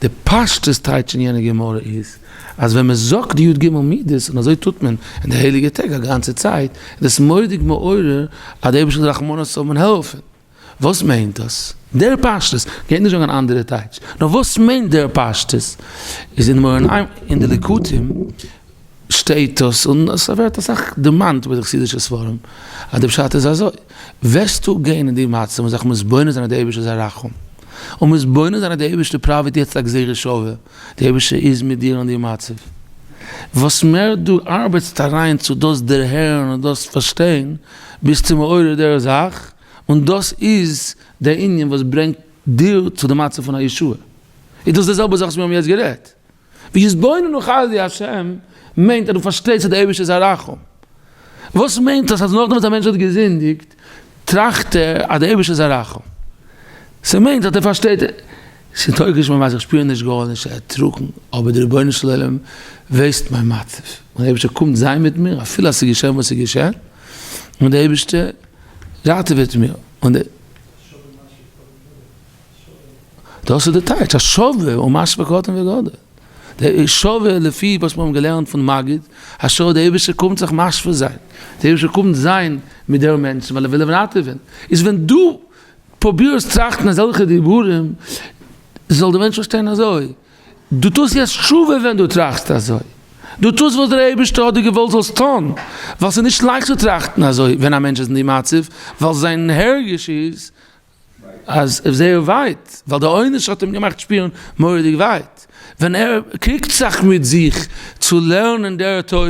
S1: די פשטות טייטש אין יענע גמרא איז אז ווען מען זאגט די י ג מידות און אזוי טוט מען אין די הייליגע טעג א גאנצע צייט איז דאס מודיג מעורר אז דער אייבערשטער זאל רחמנות האבן און העלפן. וואס מיינט דאס דער פשטות? גייט נישט זאגן אן אנדערע טייטש נאר וואס מיינט דער פשטות איז אין מרן עין אין די ליקוטים שטייט דאס און עס ווערט אסאך דערמאנט ביי די חסידישע ספרים אז די פשט איז אזוי, וועסטו גיין אין די מצב און זיך מתבונן זיין אז די אייבערשטער איז א רחום, און מתבונן זיין אז די אייבערשטער פראוועט יעצט א גזירה שווה, די אייבערשטער איז מיט דיר אין די מצב, וואס מער דו ארבעטסט אריין צו דאס דערהערן און דאס פארשטיין, ביסטו מעורר דער זאך, און דאס איז דער ענין וואס ברענגט דיר צו די מצב פון א ישועה, איז דאס די זעלבע זאך וואס מיר האבן יעצט גערעדט. ויתבוננו חסדי השם מיינט אז דו פארשטייסט אז דער אייבערשטער איז א רחום. וואס מיינט דאס אז נאכדעם וואס א מענטש האט געזינדיגט טראכט ער אז דער אייבערשטער איז א רחום? ס'מיינט אז ער פארשטייט ס'איז טויגט נישט איך שפיר נישט גארנישט ער האט טראגן אבער דער רבונו של עולם ווייסט מיין מצב און דער אייבערשטער קומט זיין מיט מיר אפילו אז ס'איז געשען וואס ס'איז געשען און דער אייבערשטער ראטעוועט מיר און דער דאס איז די טייטש, אז שווה הוא מה שבקטן וגדול. שווה לפי וואס מיר האבן געלערנט פון מגיד, אז שווה די אייבערשטער קומט זיך משווה זיין, די אייבערשטער קומט זיין מיט דער מענטש ווייל ער וויל אים ראטעווען, איז ווען דו פרובירסט טראכטן אזעלכע דיבורים, זאל די מענטש פארשטיין אזוי, דו טוסט יעצט שווה ווען דו טראכסט אזוי, דו טוסט וואס דער אייבערשטער האט דיר געוואלט זאלסט טון, ווייל ס'איז נישט לייכט צו טראכטן אזוי ווען א מענטש איז אין די מצב, ווייל זיין הרגש איז אז ער זייער ווייט ווייל די עונש האט אים געמאכט שפירן מוראדיג ווייט ווען ער קריגט זיך מיט זיך צו לערנען דער תורה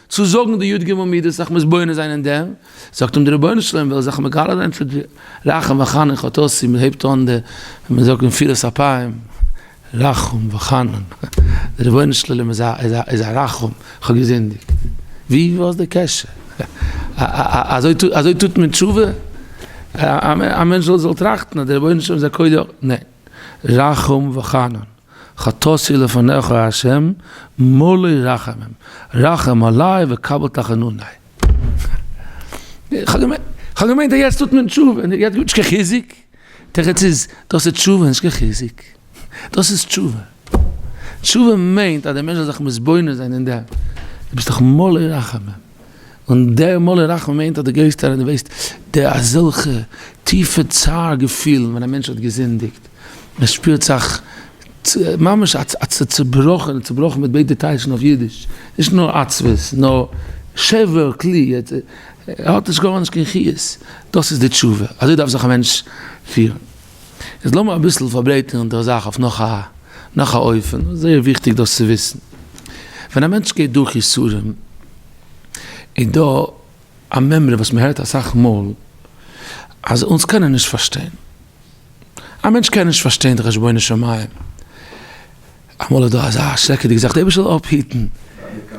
S1: צו זאגן די י ג מידות זיך מתבונן זיין אין דעם זאגט אים דער רבונו של עולם וויל זיך מגלה זיין צו דיר רחם וחנון חטאתי מען הייבט אן די מען זאגט נפילת אפיים רחום וחנון, דער רבונו של עולם איז א רחום, איך האב געזינדיגט, ווי וואס איז די קשר? אזוי טוט מען תשובה? א מענטש זאל טראכטן אז דער רבונו של עולם איז א קודאי אויך, ניין, רחום וחנון, חטאתי לפניך א ה' מלא רחמים, רחם עלי וקבל תחנוני, איך האב געמיינט אז יעצט טוט מען תשובה, יעצט גיבט נישט קיין חיזוק. תירוץ איז, דאס איז תשובה, נישט קיין חיזוק. דאס איז תשובה. תשובה מיינט אז דער מענטש זאל זיך מתבונן זיין אין דעם, דו ביסט דאך מלא רחמים. און דער מלא רחמים מיינט אז דו גייסט אריין, דו וועסט די אזעלכע טיפע צער געפילן ווען א מענטש האט געזינדיגט, מען שפירט זיך. ממש א צובראכענע, צובראכן מיט ביידע טייטשן אויף אידיש, נישט נאר עצבות, נאר שבר כלי, ער האט נישט גארנישט קיין חיות, דאס איז די תשובה, אזוי דארף זיך א מענטש פירן. איז לאמיר אביסל פארברייטערן דער זאך אויף נאך א נאך א אופן, זייער וויכטיג דאס צו וויסן, ווען א מענטש גייט דורך יסורים, איז דא א מימרא וואס מען הערט אסאך מאל, אז אונז קענען נישט פארשטיין, א מענטש קען נישט פארשטיין די חשבונות שמים, אמאל איז דא אזא שרעקעדיגע זאך, די אייבערשטער זאל אפהיטן,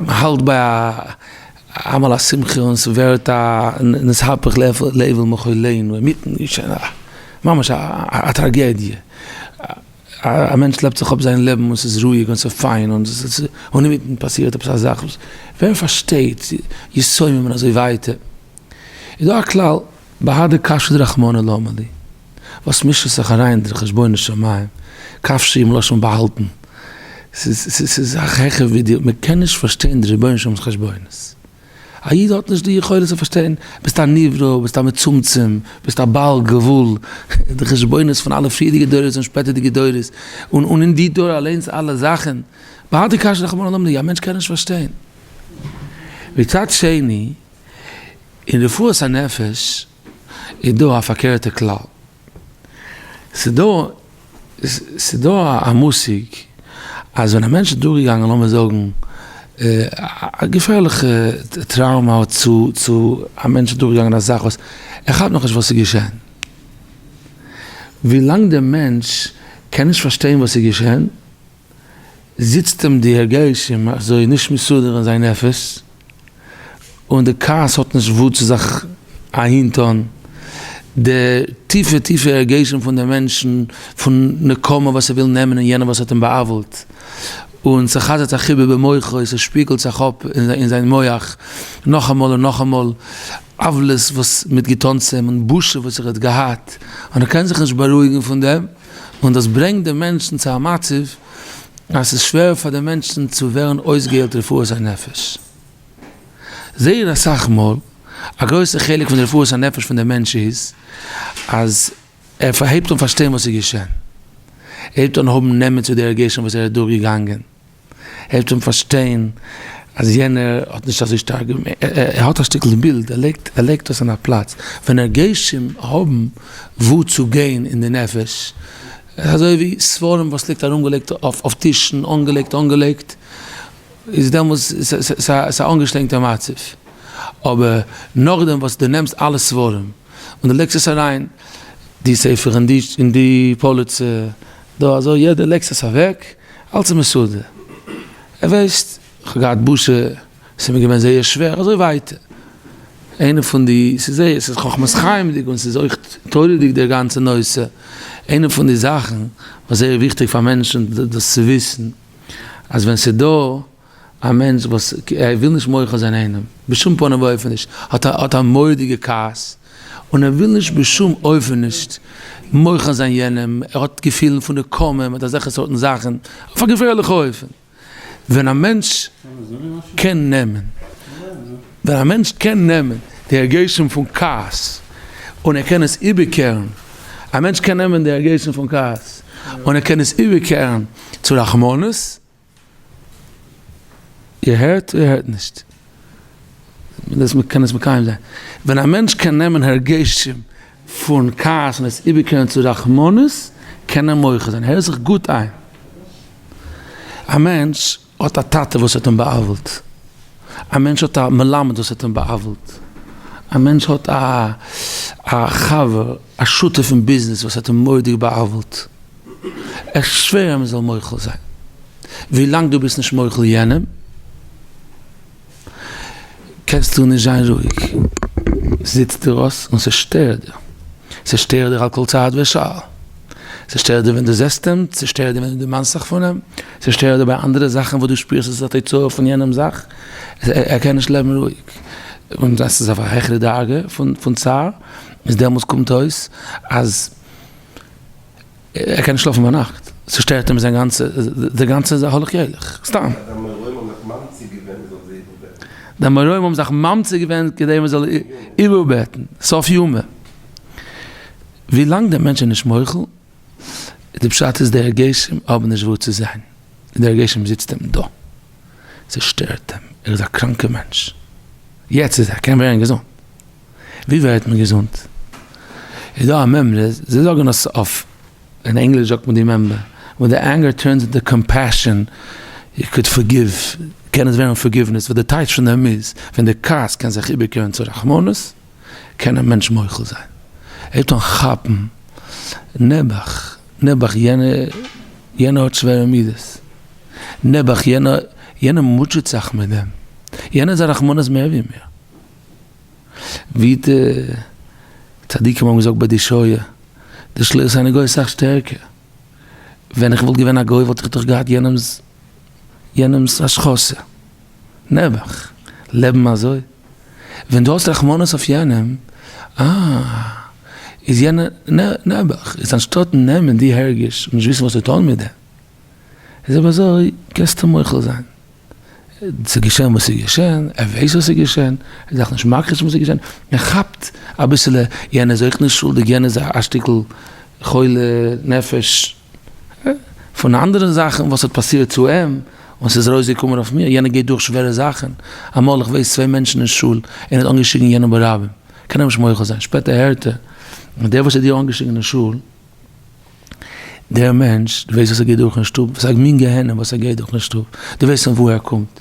S1: מען האלט ביי א אמאל א שמחה און ס'ווערט א נתהפך לעוול מחולנו אינמיטן געשען א ממש א טראגעדיע, א מענטש לעבט זיך אפ זיין לעבן און ס'איז רואיג און ס'איז פיין און אינמיטן פאסירט עפעס א זאך וואס ווער פארשטייט יסומים און אזוי ווייטער. איז דא א כלל בהדר קשיא דרחמנא למה לי, וואס מישט זיך אריין די חשבונות שמים, קשיא מלשון באהאלטן, ס'איז א זאך העכער ווי דיר, מען קען נישט פארשטיין די רבונו של עולם'ס חשבונות, א איד האט נישט די יכולת צו פארשטיין, ביסט א נברא, ביסט א מצומצם, ביסט א בעל גבול, די חשבונות פון אלע פריערדיגע דורות און שפעטערדיגע דורות, און אין די דור אליינס אלע זאכן, בהדר קשיא דרחמנא למה לי, א מענטש קען נישט פארשטיין, מצד שני. אין רפואת הנפש איז דא א פארקערטע כלל. ס'דא ס'דא א מושג אז ווען א מענטש איז דורכגעגאנגען לאמיר זאגן א געפערליכע טראומא צו צו א מענטש איז דורכגעגאנגען א זאך וואס ער כאפט נאכנישט וואס איז געשען. ווילאנג דער מענטש קען נישט פארשטיין וואס איז געשען. זיצט אים די הרגשים אזוי נישט מסודר אין זיין נפש, און די כעס האט נישט וואו צו זיך אהין טון, די טיפע טיפע הרגשים פון די מענטשן פון נקמה וואס ער וויל נעמען אין יענער וואס האט אים בא'עוול'ט, און ס'חזר'ט זיך איבער במוחו, ס'שפיגלט זיך אפ אין זיין מוח נאכאמאל און נאכאמאל, עוולות וואס מ'האט געטון צו אים און בושה וואס ער האט געהאט, און ער קען זיך נישט בארואיגן פון דעם. און דאס ברענגט די מענטשן צו א מצב אז ס'איז שווער פאר די מענטשן צו ווערן אויסגעהיילט רפואת הנפש. זייער אסאך מאל, א גרויסע חלק פון די רפואת הנפש פון די מענטש איז אז ער הייבט אן פארשטיין וואס איז געשען, ער הייבט אן האבן נעמען צו די הרגשים וואס ער איז דורך געגאנגען, העלפט אים פארשטיין אז יענער האט נישט אזוי שטארק געמיינט, ער האט א שטיקל בילד, ער לייגט ער לייגט דאס אין א פלאץ, ווען הרגשים האבן וואו צו גיין אין די נפש, אזוי ווי ספרים וואס ליגט ארום געלייגט אויף טישן אנגעלייגט אנגעלייגט, איז דעמאלס ס'איז א אנגעשטרענגטע מצב, אבער נאכדעם וואס דו נעמסט אלע ספרים און דו לייגסט עס אריין די ספר אין די פאליצע, דא אזוי יעדער לעקט עס אוועק, אלס איז מסודר, ער ווייסט כ'האב געהאט בושה, ס'איז מיר געווען זייער שווער אזוי ווייטער, איינע פון די, ס'איז זייער, ס'איז חכמת חיים'דיג און ס'איז אויך תורה'דיג דער גאנצער נושא, איינע פון די זאכן וואס זייער וויכטיג פאר מענטשן דאס צו וויסן אז ווען ס'איז דא. א מענטש וואס וויל נישט מוחל זיין איינעם, בשום פנים ואופן נישט, האט א מורא'דיגע כעס, און ער וויל נישט בשום אופן נישט מוחל זיין יענעם, ער האט געפילן פון נקמה מיט אזעלכע סארטן זאכן, אויף א געפערליכע אופן, ווען א מענטש קען נעמען, ווען א מענטש קען נעמען די הרגשים פון כעס, און ער קען עס איבערקערן, א מענטש קען נעמען די הרגשים פון כעס, און ער קען עס איבערקערן צו רחמנות. איר הערט איר הערט נישט? דאס מען קען עס מקיים זיין. ווען א מענטש קען נעמען הרגשים פון כעס און עס איבערקערן צו רחמנות קען ער מוחה זיין. הער זיך גוט איין. א מענטש האט א טאטע וואס האט אים בא'עוול'ט. א מענטש האט א מלמד וואס האט אים בא'עוול'ט. א מענטש האט א חבר, א שותף אין ביזנעס וואס האט אים מורא'דיג בא'עוול'ט. איך שווער אז מען זאל מוחל זיין. ווילאנג דו ביסט נישט מוחל יענעם קענסטו נישט זיין רואיג. זיצט דיר אויס און ס'שטערט דיר. ס'שטערט דיר על כל צעד ושעל. ס'שטערט דיר ווען דו זעסט אים, ס'שטערט דיר ווען דו דערמאנסט זיך פון אים, ס'שטערט דיר ביי אנדערע זאכן וואס דו שפירסט עס איז א תוצאה פון יענעם זאך. ער קען נישט לעבן רואיג. און עס איז אויף א העכערע דרגה פון צער. איז דעמאלס קומט אויס אז. ער קען נישט שלאפן ביינאכט, ס'שטערט אים זיין גאנצע, די גאנצע איז א הולך ילך, סתם. די אמוראים האבן זיך ממצי' געווען מען זאל זיי איבערבעטן. די אמוראים האבן זיך ממצי' געווען כדי מען זאל איבערבעטן, סוף יומא. ווילאנג דער מענטש איז נישט מוחל, די פשט איז די הרגשים האבן נישט וואו צו זיין, די הרגשים זיצט אים דא, ס'שטערט אים, ער איז א קראנקע מענטש. יעצט איז ער קען ווערן געזונט. ווי ווערט מען געזונט? איז דא א מימרא, זיי זאגן אז אויף אין ענגליש זאגט מען די מימרא, ווען די ענגער טורנס אינטו קאמפעשאן, יו קאד פארגיוו, קען עס ווערן פארגיוונעס, וואס די טייטש פון דעם איז, ווען די כעס קען זיך איבערקערן צו רחמנות, קען א מענטש מוחל זיין, ער הייבט אן כאפן, נעבעך, נעבעך יענער האט שווערע מידות, נעבעך יענער מוטשעט זיך מיט דעם, יענער איז א רחמנות מער ווי מיר. ווי די צדיקים האבן געזאגט ביי די שואה, די שלוס איינער גוי איז סאך שטערקער, ווען איך וואלט געווען א גוי וואלט איך דאך געהאט יענעמס יענעמס השחתה, נעבעך, לעבן אזוי, ווען דו האסט רחמנות אויף יענעם, אה, איז יענער, נע, נעבעך, איז אנשטאט נעמען די הרגש און נישט וויסן וואס צו טון מיט דעם, איז אויב אזוי קענסטו מוחל זיין. ס'איז געשען וואס ס'איז געשען, ער ווייסט וואס איז געשען, ער דארף נישט מכחיש זיין וואס איז געשען, ער כאפט אביסעלע יענער איז אויך נישט שולדיג, יענער איז א שטיקל חולה נפש, פון אנדערע זאכן וואס האט פאסירט צו אים, און ס'איז ארויסגעקומען אויף מיר, יענער גייט דורך שווערע זאכן, אמאל איך ווייס צוויי מענטשן אין שול, איינער האט אנגעשריגן יענעם ברבים, קען ער נישט מוחל זיין, שפעטער הערט ער, דער וואס האט דיר אנגעשריגן אין שול, דער מענטש, דו ווייסט וואס ער גייט דורך אין שטוב? וואס א מין גיהנום וואס ער גייט דורך אין שטוב? דו ווייסט פון וואו ער קומט?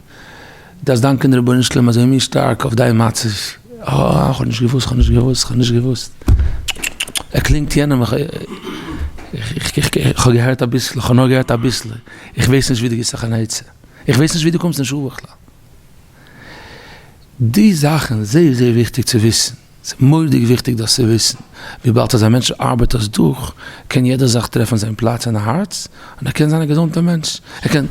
S1: דארפסט דאנקען די רבונו של עולם אזוי מין שטארק אויף דיין מצב. אה, כ'האב נישט געוואוסט, כ'האב נישט געוואוסט, כ'האב נישט געוואוסט. ער קלינגט יענעם, כ'האב געהערט אביסל, כ'האב נאר געהערט אביסל, איך ווייס נישט ווי דו גיבסט זיך אן עצה, איך ווייס נישט ווי דו קומסט אין שול בכלל. די זאכן איז זייער זייער וויכטיג צו וויסן, ס'איז מורא'דיג וויכטיג דאס צו וויסן, וויבאלד אז א מענטש ארבעט דאס דורך, קען יעדער זאך טרעפן זיין פלאץ אין הארץ, און ער קען זיין א געזונטער מענטש, ער קען.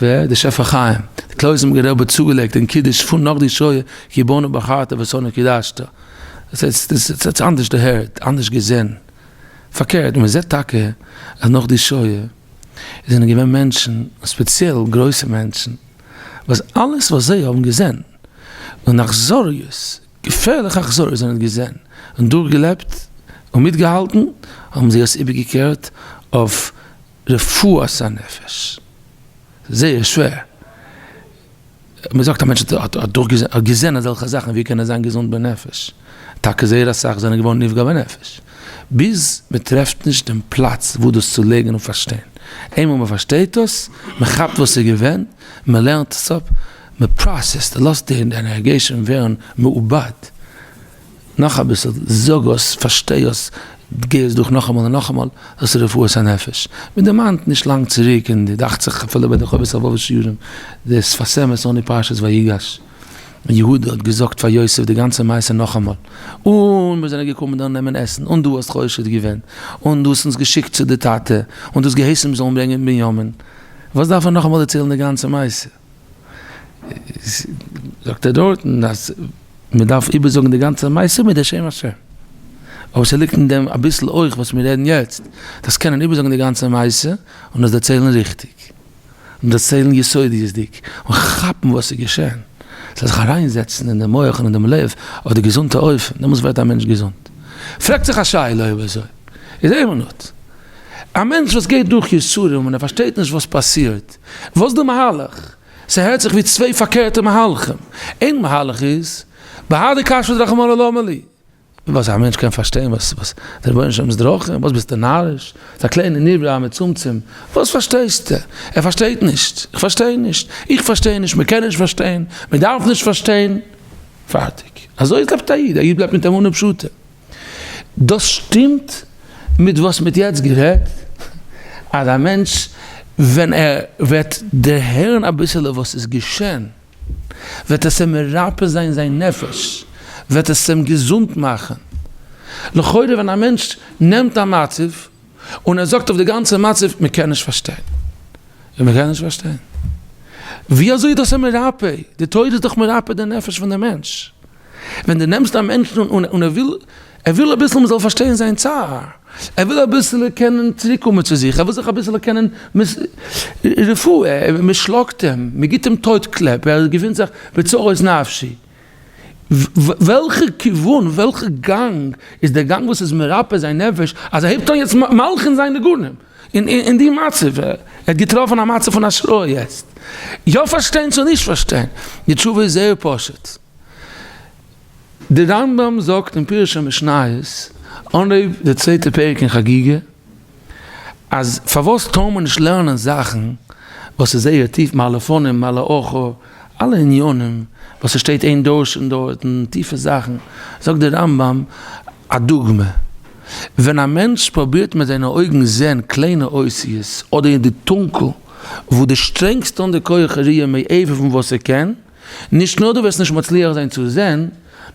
S1: ווער? די שפע חיים, די קלויזענבערגער רבי האט צוגעלייגט אין קידוש פון נאך די שואה, כי בנו בחרת ושונא קידשת, ס'איז אנדערש דערהערט, אנדערש געזען, פארקערט, מען זעט טאקע אז נאך די שואה איז זענען געווען מענטשן, און ספעציעל גרויסע מענטשן, וואס אלעס וואס זיי האבן געזען, און אכזריות, געפערליכע אכזריות זיי האבן געזען און דורכגעלעבט און מיטגעהאלטן, האבן זיי עס איבערגעקערט אויף רפואת הנפש. זייער שווער. מען זאגט א מענטש האט האט געזען אזעלכע זאכן ווי קען ער זיין געזונט בנפש? טאקע זייער אסאך זענען געווארן נפגע בנפש, ביז מען טרעפט נישט דעם פלאץ וואו דאס צו לייגן און פארשטיין, איינמאל מען פארשטייט דאס, מען כאפט וואס איז געווען, מען לערנט עס אפ, מען פראסעסט, לאזט די ענערגיעשאן ווערן מעובד, נאך אביסל, זאג אויס, פארשטיי אויס, גיי עס דורך נאכאמאל און נאכאמאל, דאס איז רפואת הנפש. מען דערמאנט נישט לאנג צוריק אין די, דאכט זיך אפילו ביי די חובת הלבבות שיעורים, די שפת אמת אן די פרשת ויגש, ווען יהודה האט געזאגט פאר יוסף די גאנצע מעשה נאכאמאל, און מיר זענען געקומען דאן נעמען עסן, און דו האסט חושד געווען, און דו האסט אונז געשיקט צו די טאטע, און דו האסט געהייסן מיר זאלן ברענגען בנימין. וואס דארף ער נאכאמאל דערציילן די גאנצע מעשה? זאגט ער דארטן אז מען דארף איבערזאגן די גאנצע מעשה מיט די שם השם, אבער ס'ליגט אין דעם אביסל אויך וואס מיר רעדן יעצט, דאס קענען איבערזאגן די גאנצע מעשה און עס דערציילן ריכטיג, און דערציילן יסודיות'דיג, און כאפן וואס איז געשען, ס'זאל זיך אריינזעצן אין דעם מח און אין דעם לב אויף די געזונטע אופן, דעמאלס ווערט א מענטש געזונט. פרעגט זיך א שאלה אויב אזוי איז אומנות. א מענטש וואס גייט דורך יסורים און ער פארשטייט נישט וואס פאסירט, וואס די מהלך? ס'הערט זיך ווי צוויי פארקערטע מהלכים. איין מהלך איז, בהאי דקשיא דרחמנא למה לי? וואס א מענטש קען פארשטיין וואס וואס די רבונו שלם'ס דרכים? וואס ביסטו נאריש? ס'איז א קליינע נברא א מצומצם, וואס פארשטייסטו? ער פארשטייט נישט, איך פארשטיי נישט, איך פארשטיי נישט, מ'קען נישט פארשטיין, מ'דארף נישט פארשטיין. פארטיג. אזוי לעבט א איד, א איד בלייבט מיט אמונה פשוטה. דאס שטימט מיט וואס מ'האט יעצט גערעדט, אז א מענטש ווען ער וועט דערהערן אביסעלע וואס איז געשען, וועט עס אים מרפא זיין זיין נפש, וועט עס אים געזונט מאכן. לכאורה ווען א מענטש נעמט א מצב און ער זאגט אויף די גאנצע מצב, מען קען נישט פארשטיין, מען קען נישט פארשטיין, ווי אזוי איז דאס אים מרפא? די תורה איז דאך מרפא די נפש פון די מענטש. ווען דו נעמסט א מענטשן און און ער וויל ער וויל אביסל מ'זאל פארשטיין זיין צער, ער וויל אביסל קענען צוריק קומען צו זיך, ער וויל זיך אביסל קענען רפואה, מ'שלאגט אים, מ'גיבט אים טויט קלעפ, ער געפינט זיך בצרות נפשי, וועלכע כיוון, וועלכע גאנג איז דער גאנג וואס איז מרפא זיין נפש, אז ער הייבט אן יעצט מלחין זיין ניגונים? אין די מצב, ער האט געטראפן א מצב פון השראה יעצט, יא פארשטיין צו נישט פארשטיין, די תשובה איז זייער פשוט, די רמב ם זאגט אין פירוש המשניות, אנהויב די צווייטע פרק אין חגיגה, אז פארוואס טאר מען נישט לערנען זאכן וואס איז זייער טיף, מה לפנים מה לאחור, אלע עניינים וואס עס שטייט אין דורשין דארטן, טיפע זאכן, זאגט די רמב ם, א דוגמא, ווען א מענטש פרובירט מיט זיינע אויגן זען קליינע אותיות אדער אין די טונקל וואו די שטרענגסט אן די כח הראייה מעבר פון וואס ער קען, נישט נאר דו וועסט נישט מצליח זיין צו זען,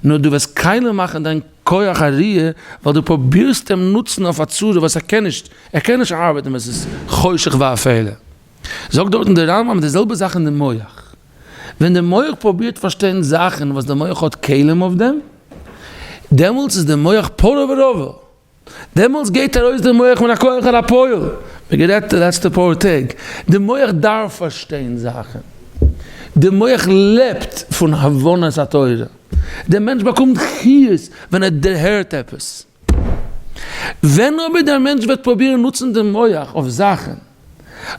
S1: נאר דו וועסט קיילה מאכן דיין כח הראייה ווייל דו פרובירסט אים נוצן אויף א צורה וואס ער קען נישט, ער קען נישט ארבעטן ווען ס'איז חושך ואפלה. זאגט דארטן די רמב ם די זעלבע זאך אין די מח. ווען דער מח פרובירט פארשטיין זאכן וואס דער מח האט כלים אויף דעם, דעמאלטס איז דער מח פרא ורבא, דעמאלטס גייט ארויס דער מח מיט א כח אל הפועל, ווי גערעדט די לעצטע פאר טעג, דער מח דארף פארשטיין זאכן, דער מח לעבט פון הבנת התורה, דער מענטש באקומט חיות ווען ער דערהערט עפעס. ווען אבער דער מענטש וועט פרובירן נוצן דעם מוח אויף זאכן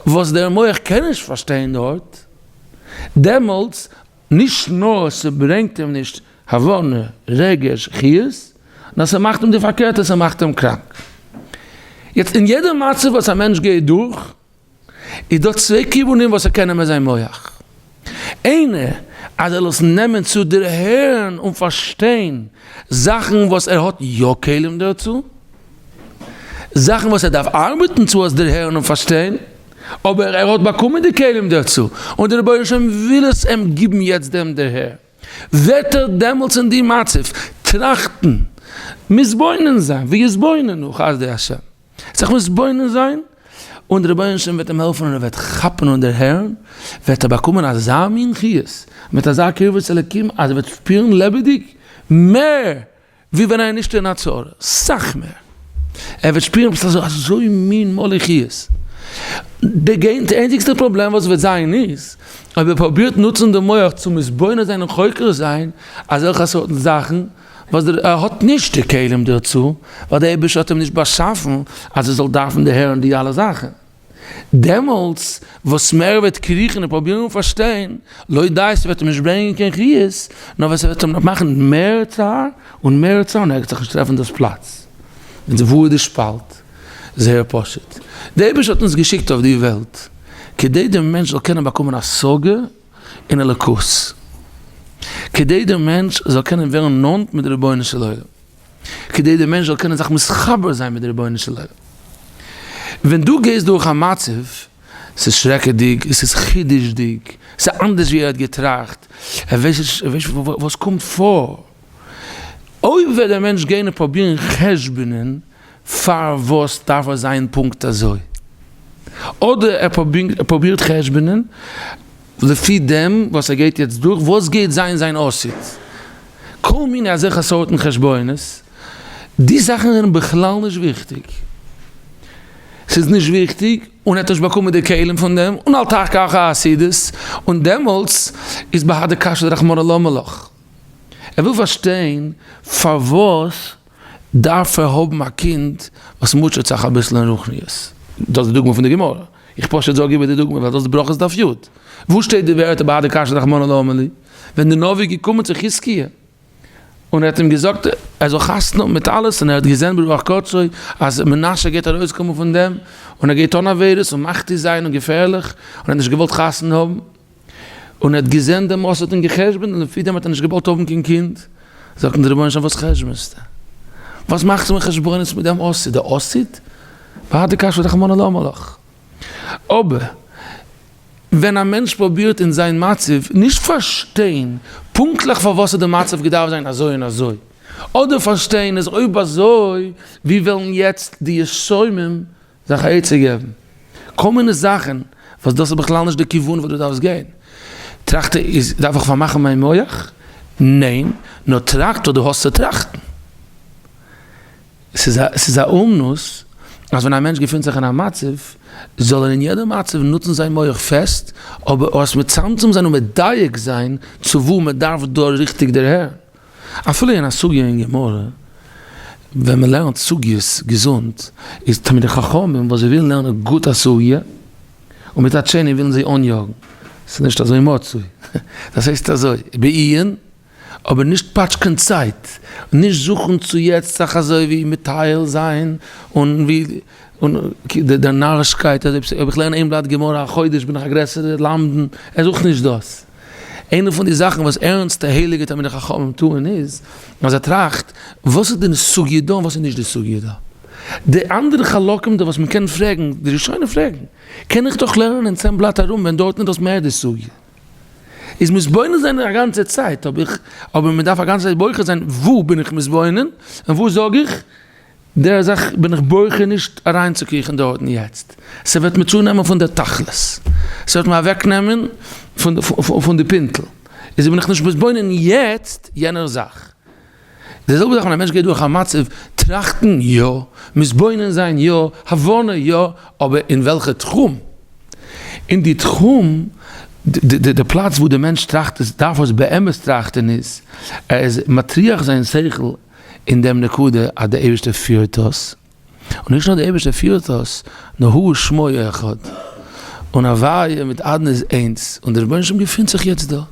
S1: וואס דער מוח קען נישט פארשטיין דארט, דעמאלטס נישט נאר ס'ברענגט אים נישט הבנה, רגש, חיות, נאר ס'מאכט אים די פארקערטע, ס'מאכט אים קראנק. יעצט אין יעדע מצב וואס א מענטש גייט דורך, איז דא צוויי כיוונים וואס ער קען נעמען זיין מח. איינע אז ער זאל עס נעמען צו דערהערן און פארשטיין זאכן וואס ער האט יא כלים דערצו, זאכן וואס ער דארף ארבעטן צו עס דערהערן און פארשטיין, אבער ער האט באקומען די כלים דערצו, און דער רבונו של עולם וויל עס אים גיבן יעצט דעם דערהער. וועט ער דעמאלטס אין די מצב טראכטן, מתבונן זיין, ויתבוננו חסדי ה', זיך מתבונן זיין, און די רבונו של עולם וועט אים העלפן און ער וועט כאפן און דערהערן, וועט ער באקומען אזא מין חיות, מיט אזא קרבה צו אלוקים, אז ער וועט שפירן לעבעדיג מער ווי ווען איינער שטערט א צרה, סאך מער. ער וועט שפירן עפעס אזוי, אזוי מין מלוכיות. די גענט איינציגסטע פראבלעם וואס וועט זיין איז, אויב ער פרובירט נוצן די מח צו מתבונן זיין און חוקר זיין אזעלכע סארטן זאכן, וואס דער ער האט נישט די כלים דערצו, ווייל דער אייבערשטער האט אים נישט באשאפן אז ער זאל דארפן דערהערן די אלע זאכן. דעמאלטס וואס מער ער וועט קריכן און פרובירן און פארשטיין, לויט דעיס וועט אים נישט ברענגען קיין חיות, נאר וועט ס'וועט אים נאר מאכן מער צער און מער צער און ער גייט זיך נישט טרעפן דאס פלאץ וואו איז די שפאלט. זייער פשוט, דער אייבערשטער האט אונז געשיקט אויף די וועלט כדי דער מענטש זאל קענען באקומען השגה אין אלוקות, כדי דער מענטש זאל קענען ווערן נאנט מיט די רבונו של עולם. כדי דער מענטש זאל קענען זיך מתחבר זיין מיט דער רבונו של עולם. ווען דו גייסט דורך א מצב, עס איז שרעקעדיג, עס איז חידוש'דיג, עס איז אנדערש ווי ער האט געטראכט, ער ווייסט נישט וואס קומט פאר. אויב וועט דער מענטש גיין און פרובירן חשבונ'ען פארוואס דארף עס זיין פונקט אזוי, אדער ער פרובירט חשבונ'ען לפי דעם וואס ער גייט יעצט דורך, וואס גייט זיין זיין עתיד? כל מיני אזעלכע סארטן חשבונות, די זאכן זענען בכלל נישט וויכטיג, ס'איז נישט וויכטיג און ער האט נישט באקומען די כלים פון דעם, און אל תחכה אחר החסידות, און דעמאלטס איז ב ה די קשיא דרחמנא למה לך? ער וויל פארשטיין פארוואס דארף ער האבן א קינד וואס מוטשעט זיך אביסל אין רוחניות, דאס איז די דוגמא פון די גמרא. איך פשוט זאג איבער די דוגמא ווייל דאס איז ברכות דף יט. וואו שטייט די ווערטער ביי אדער קשיא רחמנא למה לי? ווען די נביא איז געקומען צו חזקיה און ער האט אים געזאגט ער זאל חתונה האבן מיט אלעס און ער האט געזען ברוח קודשו אז מנשה גייט ארויסקומען פון דעם און ער גייט טון עבירות און מכתיר זיין און געפערליך און ער האט נישט געוואלט חתונה האבן. און ער האט געזען די מוסד און גע'חשבונ'ט און לפי דעם האט ער נישט געוואלט האבן קיין קינד, זאגט אים דער רבונו של עולם וואס חשבונסטו? וואס מאכסטו מיר חשבונות מיט דעם אסיד? די אסיד? ווארט די קשיות רחמנא למה לך. אבער ווען א מענטש פרובירט אין זיין מצב נישט פארשטיין פונקטליך פארוואס האט די מצב געדארפט זיין אזוי און אזוי, אדער פארשטיין אז אויב אזוי ווי וועלן יעצט די שומעים זיך א עצה געבן. כל מיני זאכן וואס דאס איז בכלל נישט די כיוון וואס דו דארפסט גיין. טראכט איז דארף איך פארמאכן מיין מח? ניין, נאר טראכט וואס דו האסט צו טראכטן. ס'איז א ס'איז א אומנות אז ווען א מענטש געפינט זיך אין א מצב זאל ער אין יעדע מצב נוצן זיין מח פעסט, אבער אויס מצמצם זיין און מדייק זיין צו וואו מ'דארף דא ריכטיג דערהערן. אפילו אין א סוגיא אין גמרא, ווען מען לערנט סוגיות געזונט, איז תלמידי חכמים וואס זיי ווילן לערנען גוט א סוגיא, און מצד שני ווילן זיי אניאגן, ס'איז נישט אזוי מצוי, דאס הייסט אזוי, בעיון, אבער נישט פאטשקען צייט, און נישט זוכן צו יעצט זיך אזוי ווי מטייל זיין, און ווי און דער נארישקייט אז אויב איך לערן איין בלאט גמרא א חודש בין איך א גרעסערע למדן, ער זוכט נישט דאס. איינע פון די זאכן וואס ערנסטע הייליגע תלמידי חכמים טוען איז אז זיי טראכט וואס איז די סוגיא דא און וואס איז נישט די סוגיא דא. די אנדערע חלקים דא וואס מען קען פרעגן, די ראשונים פרעגן, קען איך דאך לערנען אין צען בלאט ארום ווען דארטן איז דאס מער די סוגיא. איז מתבונן זיין א גאנצע צייט, אבער מען דארף א גאנצע צייט בוחר זיין וואו בין איך מתבונן און וואו זאג איך די זאך בין איך בוחר נישט אריינצוקריכן דארטן יעצט, ס'וועט מיר צונעמען פון די תכלית, ס'וועט מיר אוועקנעמען פון די פינטל, איז בין איך נישט מתבונן יעצט יענער זאך. די זעלבע זאך ווען א מענטש גייט דורך א מצב, טראכטן יא, מתבונן זיין יא, הבנה יא, אבער אין וועלכע תחום? אין די תחום, די פלאץ וואו די מענטש טראכט עס דארף עס באמת טראכטן איז, ער איז מטריח זיין שכל אין דעם נקודה אז דער אייבערשטער פירט אויס, און נישט נאר דער אייבערשטער פירט אויס, נאר ה' שמו אחד, און הוויה מיט אדנ איז איינס, און דער רבונו של עולם געפינט זיך יעצט דא, און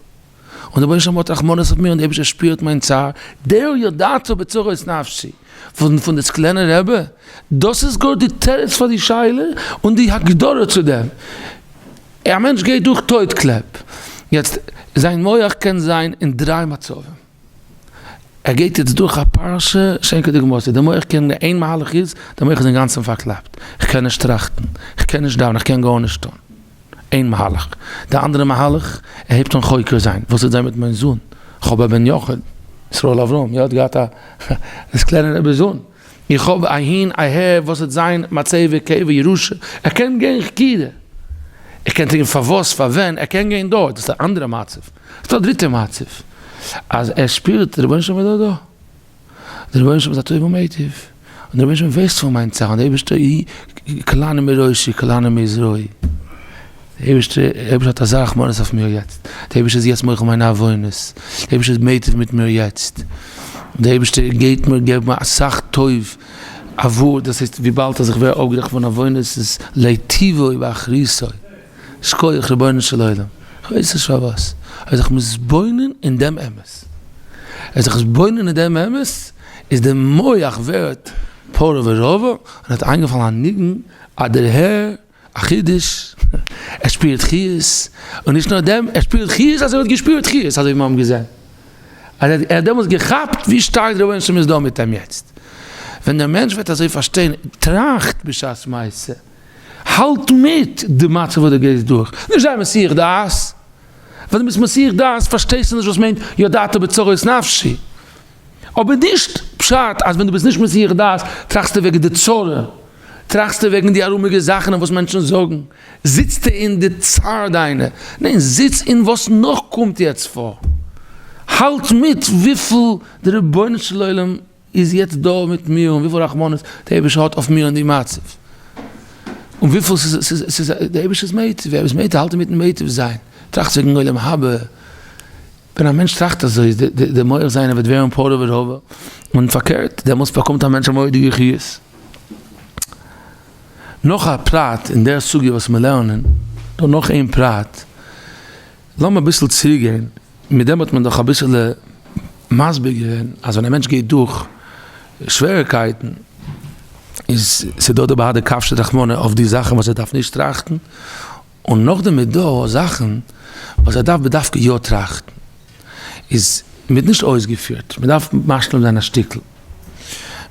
S1: דער רבונו של עולם האט רחמנות אויף מיר, און דער אייבערשטער שפירט מיין צער, דער ידעתו בצרות נפשי פון פון די סקלענער רבי, דאס איז גאר די תירוץ פאר די שאלה און די הגדרה צו דעם, א מענטש גייט דורך טויט קלעפ, יעצט זיין מח קען זיין אין דריי מצבים. ער גייט יעצט דורך א פרשה שאין כדוגמתו, די מח קען נישט, איין מהלך איז, די מח איז אינגאנצן פארקלאפט, איך קען נישט טראכטן, איך קען נישט דאווענען, איך קען גארנישט טון, איין מהלך, די אנדערע מהלך, ער הייבט אן חוקר זיין, וואס איז דען מיט מיין זון, חב ד בן יחיד, ישראל אברהם, ער האט געהאט א, דאס קלענער רבי'ס זון. איך האב אהין אהער וואס וועט זיין מצבה קבר ירושה, ער קען גיין חקירה, ער קען טרינקען פארוואס פארווען ער קען גיין דארט, דאס איז א אנדערע מצב, ס'דא א דריטע מצב אז ער שפירט די רבונו של עולם איז דאך דא, די רבונו של עולם איז א טוב ומטיב, און די רבונו של עולם ווייסט פון מיין צרה, און די אייבערשטער קלענער מראשי קלענער מזרעי. אייבערשטער, אייבערשטער האט אזא רחמנות אויף מיר יעצט, די אייבערשטער איז יעצט מוחל מיינע עוונות, די אייבערשטער איז מיטיב מיט מיר יעצט, די אייבערשטער גייט מיר געבן אסאך טוב, א ווארט, דאס הייסט וויבאלד אז איך ווער אפגערעכנט פון עוונות איז להיטיבו באחריתו, שקויעך רבונו של עולם, איך ווייס נישט פארוואס, אבער זיך מתבונן אין דעם אמת, זיך מתבונן אין דעם אמת, איז די מוח ווערט פרא ורבא, און האט איינגעפאלן א ניגון אז דער הער. א חידוש, ער שפירט חיות, און נישט נאר דעם, ער שפירט חיות אז ער האט געשפירט חיות, אזוי ווי מיר האבן געזען, אז ער האט דעמאלטס געכאפט ווי שטארק די רבונו של עולם איז דא מיט אים יעצט. ווען דער מענטש וועט אזוי פארשטיין, טראכט בשעת מעשה, האלט מיט די מצב וואס דו גייסט דורך, נישט זיי מסיח דעת, ווען דו ביסט מסיח דעת פארשטייסטו נישט וואס מיינט ידעת בצרות נפשי. אבער נישט פשט אז ווען דו ביסט נישט מסיח דעת טראכסטו וועגן די צרה, טראכסטו וועגן די ארומיגע זאכן און וואס מענטשן זאגן, זיצטו אין די צער דיינע, ניין זיץ אין וואס נאך קומט יעצט פאר, האלט מיט וויפיל די רבונו של עולם איז יעצט דא מיט מיר און וויפיל רחמנות די אייבערשטער האט אויף מיר און די מצב, און וויפיל ס'איז די אייבערשטער'ס מיטיב, ווער איז מיטיב, האלט מיטן מיטיב זיין, טראכט וועגן עולם הבא. ווען א מענטש טראכט אזוי איז די מח זיינע וועט ווערן פורה ורבע, און פארקערט דעמאלטס באקומט א מענטש א מורא'דיגע חיות. נאך א פרט אין דער סוגיא וואס מיר לערנען, דא נאך איין פרט, לאמיר אביסל צוריק גיין, מיט דעם האט מען דאך אביסעלע מסביר געווען אז ווען א מענטש גייט דורך שוועריקייטן איז ס'דא די בארדע קאפשעט רחמנא אויף די זאכן וואס ער דארף נישט טראכטן, און נאכדעם איז דא זאכן וואס ער דארף בדווקא יא טראכטן, איז מ'האט נישט אויסגעפירט, מ'דארף משלים זיין א שטיקל.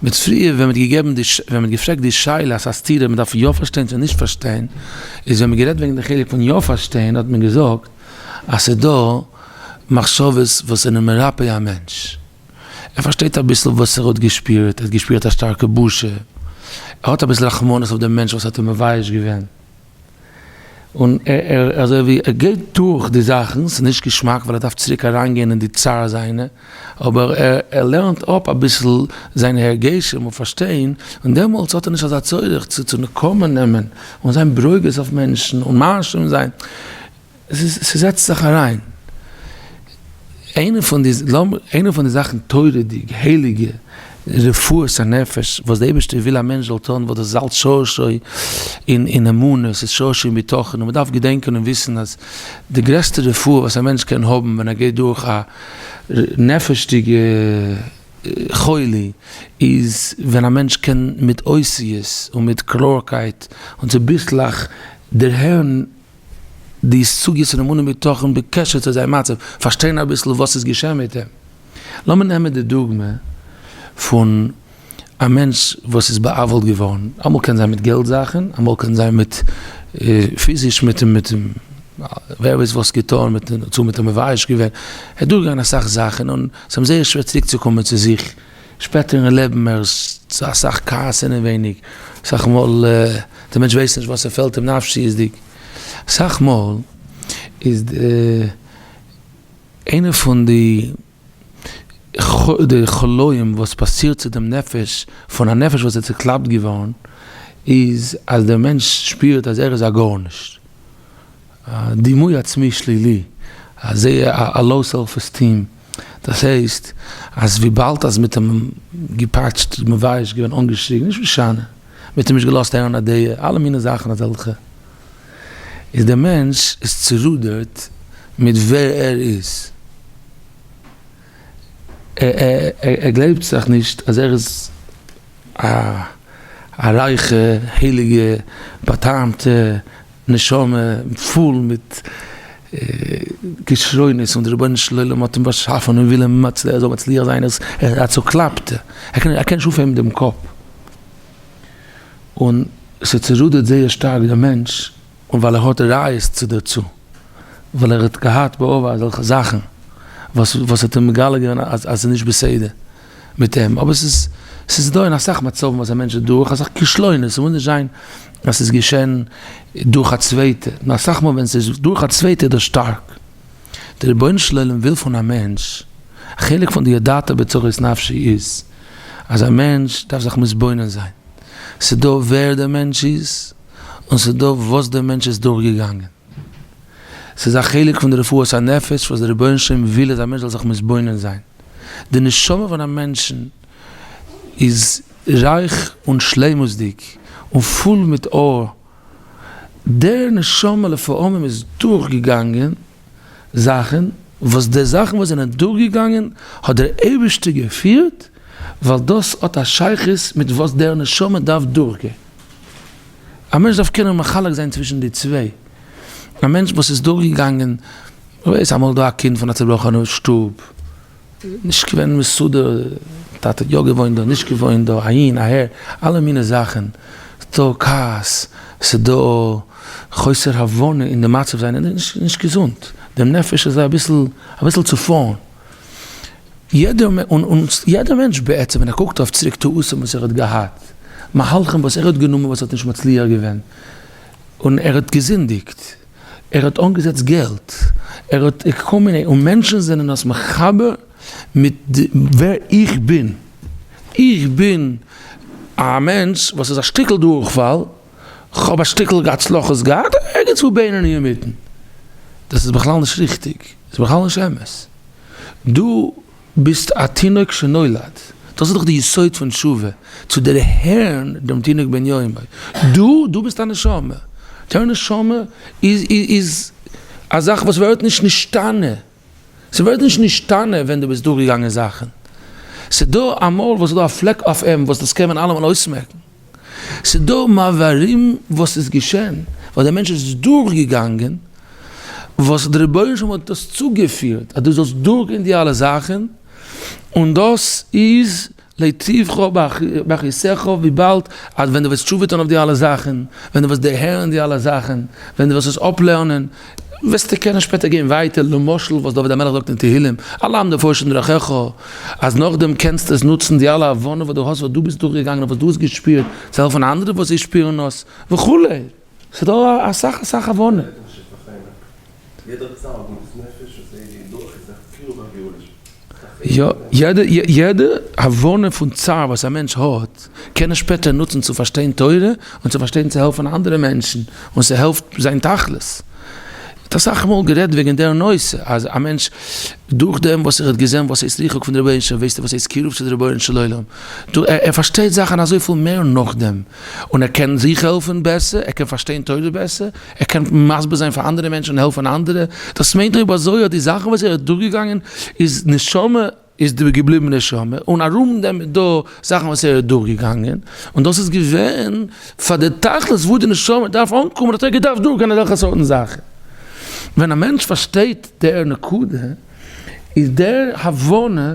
S1: מיט פריער ווען מ'האט געגעבן די, ווען מ'האט געפרעגט די שאלה אז א סתירה מ'דארף יא פארשטיין צו נישט פארשטיין, איז ווען מ'האט גערעדט וועגן די חלק פון יא פארשטיין האט מען געזאגט אז ס'איז דא מחשבות וואס זענען מרפא א מענטש. ער פארשטייט אביסל וואס ער האט געשפירט, ער האט געשפירט א שטארקע בושה, ער האט אביסל רחמנות אויף דעם מענטש וואס האט אים מבייש געווען. און ער אזוי ווי ער גייט דורך די זאכן, ס'איז נישט געשמאק ווייל ער דארף צוריק אריין גיין אין די צער זיינע, אבער ער לערנט אפ אביסל זיינע הרגשים און פארשטיין, און דעמאלטס האט ער נישט אזא צורך צו נקמה נעמען און זיין ברוגז אויף מענטשן און מאשים זיין. ס'זעצט זיך אריין. איינע פון די, איינע פון די זאכן תורה'דיג, הייליגע, רפואת הנפש, וואס די אייבערשטער וויל א מענטש זאל טון, וואס דאס איז אלץ שורשי אין אמונה, ס'איז שורשי אין בטחון, און מ'דארף געדענקען און וויסן אז די גרעסטע רפואה וואס א מענטש קען האבן ווען ער גייט דורך א נפש'דיגע חולי, איז ווען א מענטש קען מיט אותיות און מיט קלארקייט און צוביסלעך דערהערן די סוגיית אמונה בטחון בקשר צו זיין מצב, פארשטיין אביסל וואס איז געשען מיט אים, לאמיר נעמען די דוגמא פון א מענטש וואס איז בא'עוול'ט געווארן, אמאל קען זיין מיט געלט זאכן, אמאל קען זיין מיט פיזיש מיט ווער ווייסט וואס געטון, מיט צו מיט אים מבייש געווען, ער איז דורך געגאנגען אסאך זאכן און ס'איז אים זייער שווער צוריק צו קומען צו זיך. שפעטער אין לעבן ער איז צו אסאך כעס אינעווייניג, אסאך מאל דער מענטש ווייסט נישט וואס ס'פעלט אים נפשיות'דיג, אסאך מאל איז איינע פון די די חולאים וואס פאסירט צו דעם נפש פון א נפש וואס איז צוקלאפט געווארן איז אז דער מענטש שפירט אז ער איז א גארנישט. א דימוי עצמי שלילי, א זערא, א לאו סעלף עסטיעם, דאס הייסט אז וויבאלד אז מ'האט אים געפאטשט, מבייש געווען, אנגעשריגן, נישט משנה, מ'האט אים נישט געלאזט הערן א דעה, אלע מיני זאכן אזעלכע, איז דער מענטש איז צורודערט מיט ווער ער איז, ער גלייבט זיך נישט אז ער איז א רייכע, הייליגע, בא'טעמ'טע, נשמה פול מיט כשרונות און דער רבונו של עולם האט אים באשאפען און וויל אים מצ ער זאל מצליח זיין איז ער א צוקלאפטע ער קען ער קען נישט אויפהייבן דעם קאפ און ס'צורודערט זייער שטארק דעם מענטש און ווייל ער האט ראיות צו דערצו ווייל ער האט געהאט בעבר אזעלכע זאכן וואס וואס האט אים מגלה געווען אז אז ס'איז נישט בסדר. מיט אים, אבער ס'איז ס'איז דא אין אסאך מצבים וואס א מענטש איז דורך אסאך כשלונות, ס'מוז נישט זיין אז ס'איז געשען דורך א צווייטע, נאר אסאך מאל ווען ס'איז דורך א צווייטע איז דאס שטארק. דער רבונו של עולם וויל פון א מענטש, א חלק פון די ידעת בצרות נפשי איז, אז א מענטש דארף זיך מתבונן זיין, ס'דא ווער דער מענטש איז, און ס'דא וואס דער מענטש איז דורכגעגאנגען. ס'איז א חלק פון די רפואת הנפש וואס דער רבונו של עולם וויל אז א מענטש זאל זיך מתבונן זיין. די נשמה פון א מענטשן איז רייך און שלימות'דיג און פול מיט אור. דער נשמה לפעמים איז דורכגעגאנגען זאכן וואס די זאכן וואס זענען דורכגעגאנגען האט דער אייבערשטער געפירט ווייל דאס האט א שייכות מיט וואס דער נשמה דארף דורכגיין. א מענטש דארף קענען מחלק זיין צווישן די צוויי, א מענטש וואס איז דורכגעגאנגען, ווער ווייסט אמאל דא א קינד פון א צובראכענע שטוב, נישט געווען מסודר, טאטע האט יא געוואוינט דא, נישט געוואוינט דא, אהין אהער, אלע מיני זאכן, ס'דא כעס, ס'דא חוסר הבנה אין די מצב זיינע, נישט געזונט, דעם נפש איז אביסל אביסל צופארן, יעדער מענטש בעצם ווען ער קוקט אויף צוריק טעותים וואס ער האט געהאט, מהלכים וואס ער האט גענומען וואס האט נישט מצליח געווען, און ער האט געזינדיגט, ער האט אנגעזעצט געלט, ער האט כל מיני, און מענטשן זענען עס מחבר מיט ווער איך בין, איך בין א מענטש וואס איז א שטיקל דורכפאל, כ'האב א שטיקל הצלחות געהאט, ערגעץ וואו בינוני אינמיטן. דאס איז בכלל נישט ריכטיג, ס'איז בכלל נישט אמת. דו ביסט א תינוק שנולד, דאס איז דאך די יסוד פון תשובה, צו דערהערן דעם תינוק בן יומו. דו, דו ביסט א נשמה. דער נשמה איז א זאך וואס ווערט נישט נשתנה. ס'ווערט נישט נשתנה ווען דו ביסט דורכגעגאנגען זאכן. ס'דא א מויל וואס איז דא א פלעק אויף אים וואס דאס קען מען אלעמאל אויסמעקן. ס'דא מעברים וואס איז געשען ווייל דער מענטש איז דורכגעגאנגען וואס דער רבונו של עולם האט דאס צוגעפירט אז דו זאלסט דורכגיין די אלע זאכן און דאס איז להיטיבך באחיסך וויבאלד אז ווען דו וועסט תשובה טון אויף די אלע זאכן, ווען דו וועסט דערהערן די אלע זאכן, ווען דו וועסט עס אפלערנען, וועסטו קענען שפעטער גיין ווייטער, למשל וואס דוד המלך זאגט אין תהילים, אלעם דערפאר שטן דרכיך, אז נאכדעם קענסטו עס נוצן די אלע הבנה וואס דו האסט וואס דו ביסט דורכגעגאנגען און וואס דו האסט געשפירט צו העלפן אנדערע וואס זיי שפירן עס וכו'. ס'איז דא אסאך
S2: אסאך הבנה. יא, יעדע
S1: יעדע הבנה פון צער וואס א מענטש האט, קען ער שפעטער נוצן צו פארשטיין תורה, און צו פארשטיין צו העלפן אנדערע מענטשן, און ס'העלפט זיין תכלית. מ'האט אסאך מאל גערעדט וועגן דער נושא, אז א מענטש דורכדעם וואס ער האט געזען וואס הייסט ריחוק פון די רבונו של עולם, ווייסט ער וואס הייסט קירוב צו די רבונו של עולם, ער פארשטייט זאכן אזויפיל מער נאכדעם. און ער קען זיך העלפן בעסער, ער קען פארשטיין תורה בעסער, ער קען מסביר זיין פאר אנדערע מענטשן און העלפן אנדערע, דאס מיינט אויב אזוי האט די זאכן וואס ער איז דורכגעגאנגען איז נשמה איז די געבליבן נשמה און ארום דעם איז דא זאכן וואס ער איז דורכגעגאנגען און דאס איז געווען פאר די תכלית וואו די נשמה דארף אנקומען האט ער געדארפט דורכגיין אזעלכע סארטן זאכן. ווען א מענטש פארשטייט דער נקודה איז דער הבנה.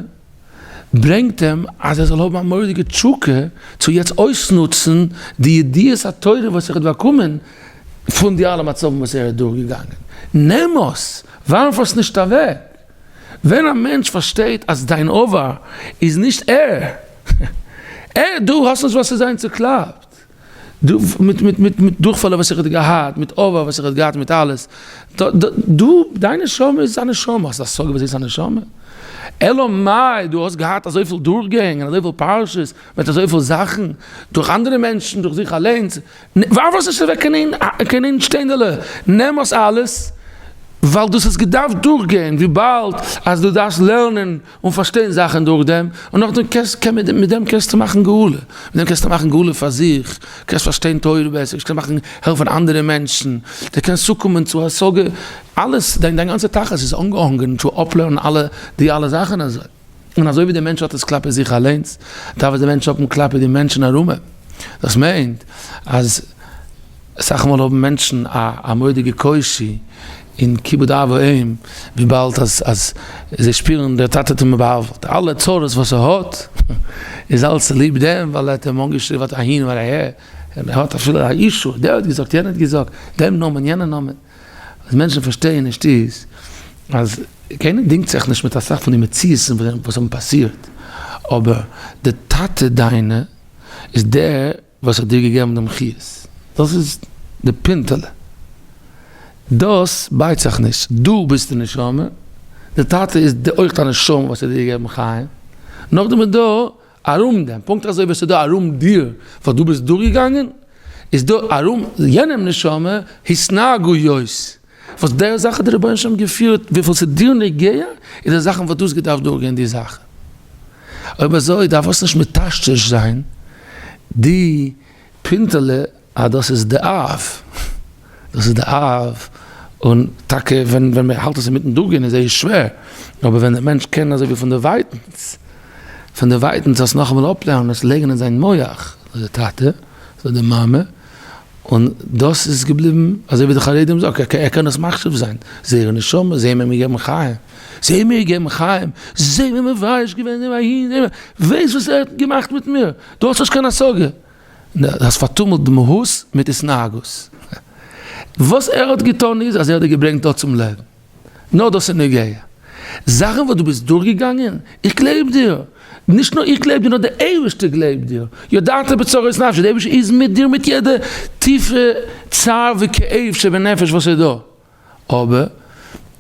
S1: ברענגט אים אז ער זאל האבן א מורא'דיגע תשוקה צו יעצט אויסנוצן די ידיעת התורה וואס ער האט באקומען פון די אלע מצבים וואס ער איז דורך געגאנגען, נעם עס, ווארף עס נישט אוועק, ווען א מענטש פארשטייט אז דיין עבר איז נישט ער, ער, דו האסט נישט וואס צו זיין צוקלאפט. מיט דורכפאלער וואס איך האט געהאט, מיט אבר וואס איך האט געהאט, מיט אלעס, דו, דיין נשמה איז א נשמה, האסט השגה וואס הייסט א נשמה? אלא מאי דו האסט געהאט אזויפיל דורכגענג, אזויפיל פרשות, מיט אזויפיל זאכן, דורך אנדערע מענטשן, דורך זיך אליינס, ווארף עס נישט אוועק אין איין שטענדעלע, נעם עס אלעס, ווייל דאס האסט געדארפט דורכגיין, וויבאלד אז דו דארפסט לערנען. און פארשטיין זאכן דורך דעם, און נאכדעם קענסט קען מען מיט דעם קענסטו מאכן גאולה, מיט דעם קענסטו מאכן גאולה פאר זיך, קענסט פארשטיין תורה בעסער, קענסט מאכן העלפן אנדערע מענטשן, די קענסט צוקומען צו השגה, אלעס דיין דיין גאנצע תכלית איז אנגעהאנגען צו אפלערנען אלע די אלע זאכן אזוי, און אזוי ווי דער מענטש האט עס כלפי זיך אליינס, דארף עס דער מענטש האבן כלפי די מענטשן ארום אים, דאס מיינט אז אסאך מאל האבן מענטשן א א מורא'דיגע קושי. און כיבוד אב ואם, וויבאלד אז אז זיי שפירן דער טאטע האט אים באהאוועלט, אלע צרות וואס ער האט איז אלעס צוליב דעם ווייל ער האט אים אנגעשריבן אט אהין ואט אהער, און ער האט אפילו א אישו, דער האט געזאגט, יענער האט געזאגט, דעם נאמען, יענע נאמען, וואס מענטשן פארשטייען נישט איז, אז קיינער דינגט זיך נישט מיט אסאך פון די מציאות'ן וואס האבן פאסירט, אבער די טאטע דיינע איז דער. וואס האט דיר געגעבן דעם חיות? דאס איז די פינטעלע. דאס בייט זיך נישט. דו ביסט די נשמה, די טאטע איז אויך א נשמה וואס האט דיר געגעבן חיים. נאכדעם איז דא ארום דעם, פונקט אזוי ווי עס איז דא ארום דיר וואס דו ביסט דורכגעגאנגען, איז דא ארום יענעם נשמה התנהגויות, וואס די זאך האט די רבונו של עולם געפירט, וויפיל ס'איז דיר נוגע איז די זאכן וואס דו האסט געדארפט דורכגיין די זאכן, אויב אזוי דארפסט נישט מטשטש זיין די פינטעלע אז דאס איז די אב, דאס איז די אב, און טאקע ווען מען האלט עס אינמיטן דורכגיין איז זייער שווער, אבער ווען דער מענטש קען אזוי ווי פונדערווייטנס, פונדערווייטנס אלס נאכאמאל אפלערנען עס לייגן אין זיין מח, אזוי די טאטע, אזוי די מאמע. און דאס איז געבליבן אזוי ווי די חרדים זאגט ער קען דאס מחשיב זיין זייערע נשמות זיי האבן אים געגעבן חיים זיי האבן מיר געגעבן חיים זיי האבן מבאיש געווען דעם איד וועסט וואס ער האט געמאכט מיט מיר דו האסט נישט קיין השגה דו האסט פארטומלט די מהות מיט התנהגות וואס ער האט געטון איז אז ער האט דיר געברענגט דא צום לעבן. נאר דאס איז נוגע. זאכן וואס דו ביסט דורכגעגאנגען, איך גלייב דיר. נישט נאר איך גלייב דיר, נאר דער אייבערשטער גלייבט דיר. ידעת בצרות נפשך, דער אייבערשטער איז מיט דיר מיט יעדע טיפע צער וכאב שבנפש וואס איז דא. אבער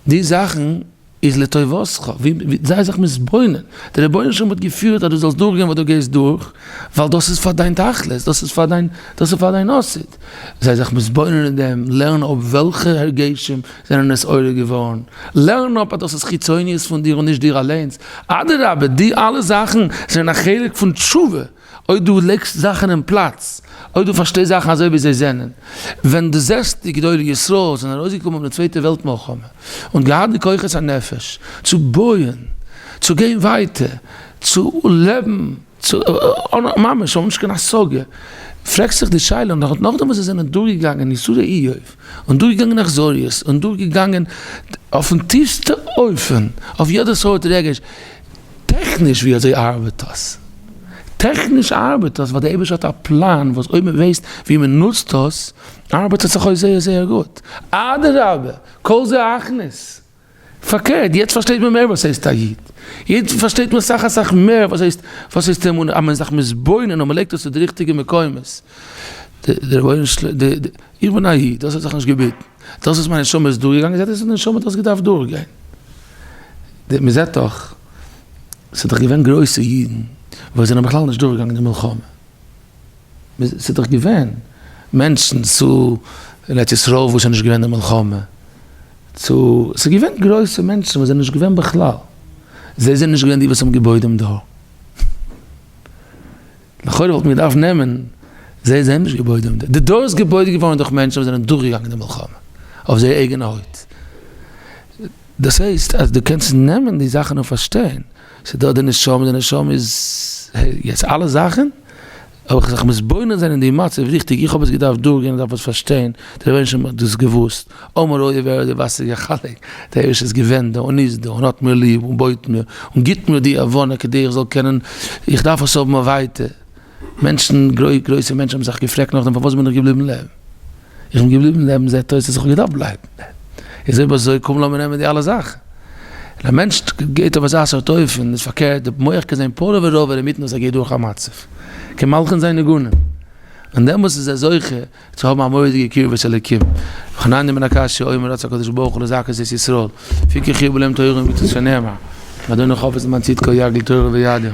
S1: די זאכן איז לטובתך, זיי זיך מתבונן. דער רבונו של עולם האט געפירט אז דו זאלסט דורכגיין וואס דו גייסט דורך, ווייל דאס איז פאר דיין תכלית, דאס איז פאר דיין עתיד. זיי זיך מתבונן אין דעם, לערן אפ וועלכע הרגשים זענען עס עולה געווארן, לערן אפ אז דאס איז חיצוניות פון דיר און נישט דיר אליינס, אדרבה די אלע זאכן זענען א חלק פון תשובה, אויב דו לייגסט זאכן אין פלאץ, אויב דו פארשטייסט זאכן אזוי ווי זיי זענען, ווען דו זעסט די גדולי ישראל זענען ארויסגעקומען פון די צווייטע וועלט מלחמה און געהאט די כוחות הנפש צו בויען, צו גיין ווייטער, צו לעבן. ממש האבן נישט קיין השגה, פרעגסט זיך די שאלה, נאכדעם וואס זיי זענען דורכגעגאנגען יסורי איוב, און דורכגעגאנגען אכזריות, און דורכגעגאנגען אויפן טיפסטע אופן, אויף יעדע סארט רגש, טעכניש ווי אזוי ארבעט דאס? טעכניש ארבעט דאס ווייל די אייבערשטער האט א פלאן וואס אויב מען ווייסט ווי מען נוצט דאס, ארבעט עס זיך אויס זייער זייער גוט, אדרבה כל זה הכנס, פארקערט, יעצט פארשטייט מען מער וואס הייסט א איד, יעצט פארשטייט מען אסאך אסאך מער וואס הייסט וואס הייסט אמונה, אז מען איז זיך מתבונן און מען לייגט עס צו די ריכטיגע מקומות, די רבונו של עולם, איך בין א איד, דאס האט זיך נישט געבעטן, דאס וואס מיין נשמה איז דורכגעגאנגען זעט אויס אז די נשמה האט דאס געדארפט דורכגיין, מען זעט דאך, ס'איז דאך געווען גרויסע אידן וואס זענען בכלל נישט דורכגעגאנגען די מלחמה. ס'איז דאך געווען מענטשן צו אין ארץ ישראל וואס איז נישט געווען די מלחמה, צו ס'איז געווען גרויסע מענטשן וואס זענען נישט געווען בכלל, זיי זענען נישט געווען די וואס האבן געבויט דעם דור. לכאורה וואלט מען געדארפט נעמען זיי זיי האבן נישט געבויט דעם דור, די דור איז געבויט געווארן דורך מענטשן וואס זענען דורכגעגאנגען די מלחמה אויף זייער אייגענע הויט. דאס הייסט אז דו קענסט נעמען די זאכן און פארשטיין, ס'דא די נשמה, די נשמה איז יעצט אלע זאכן, אבער כ'זיך מתבונן זיין אין די מצב ריכטיג, איך האב עס געדארפט דורכגיין, איך דארף עס פארשטיין, די רבינשטיין האט דאס געוואוסט, אמר אוי ווער האט די וואסעריגע חלק, דער אייבערשטער איז געווען דא און איז דא און האט מיר ליב און בויט מיר און גיבט מיר די הבנה כדי איך זאל קענען, איך דארף עס האבן ווייטער. מענטשן, גרויסע מענטשן האבן זיך געפרעגט נאכדעם פארוואס בין איך געבליבן לעבן? איך בין געבליבן לעבן זעט אויס אז איך האב געדארפט בלייבן. איז אויב אזוי קום לאמיר נעמען די אלע זאכן. און א מענטש געבט אויף אזא סארט אופן איז פארקערט, די מח קען זיין פולע ורובע אינמיטן וואס ער גייט דורך א מצב. קען מלכן זיין ניגונים. און דעמאלס איז ער זוכה. צו האבן א מורא'דיגע קרבת אלקים. וכנען די מן הקש ש האומר רצה הקדוש ברוך הוא לזכות את ישראל, לפי כן חיבור להם תורה ומצוות שנאמר, ואדוני חפץ למען צדקו יגדיל תורה ויאדיר.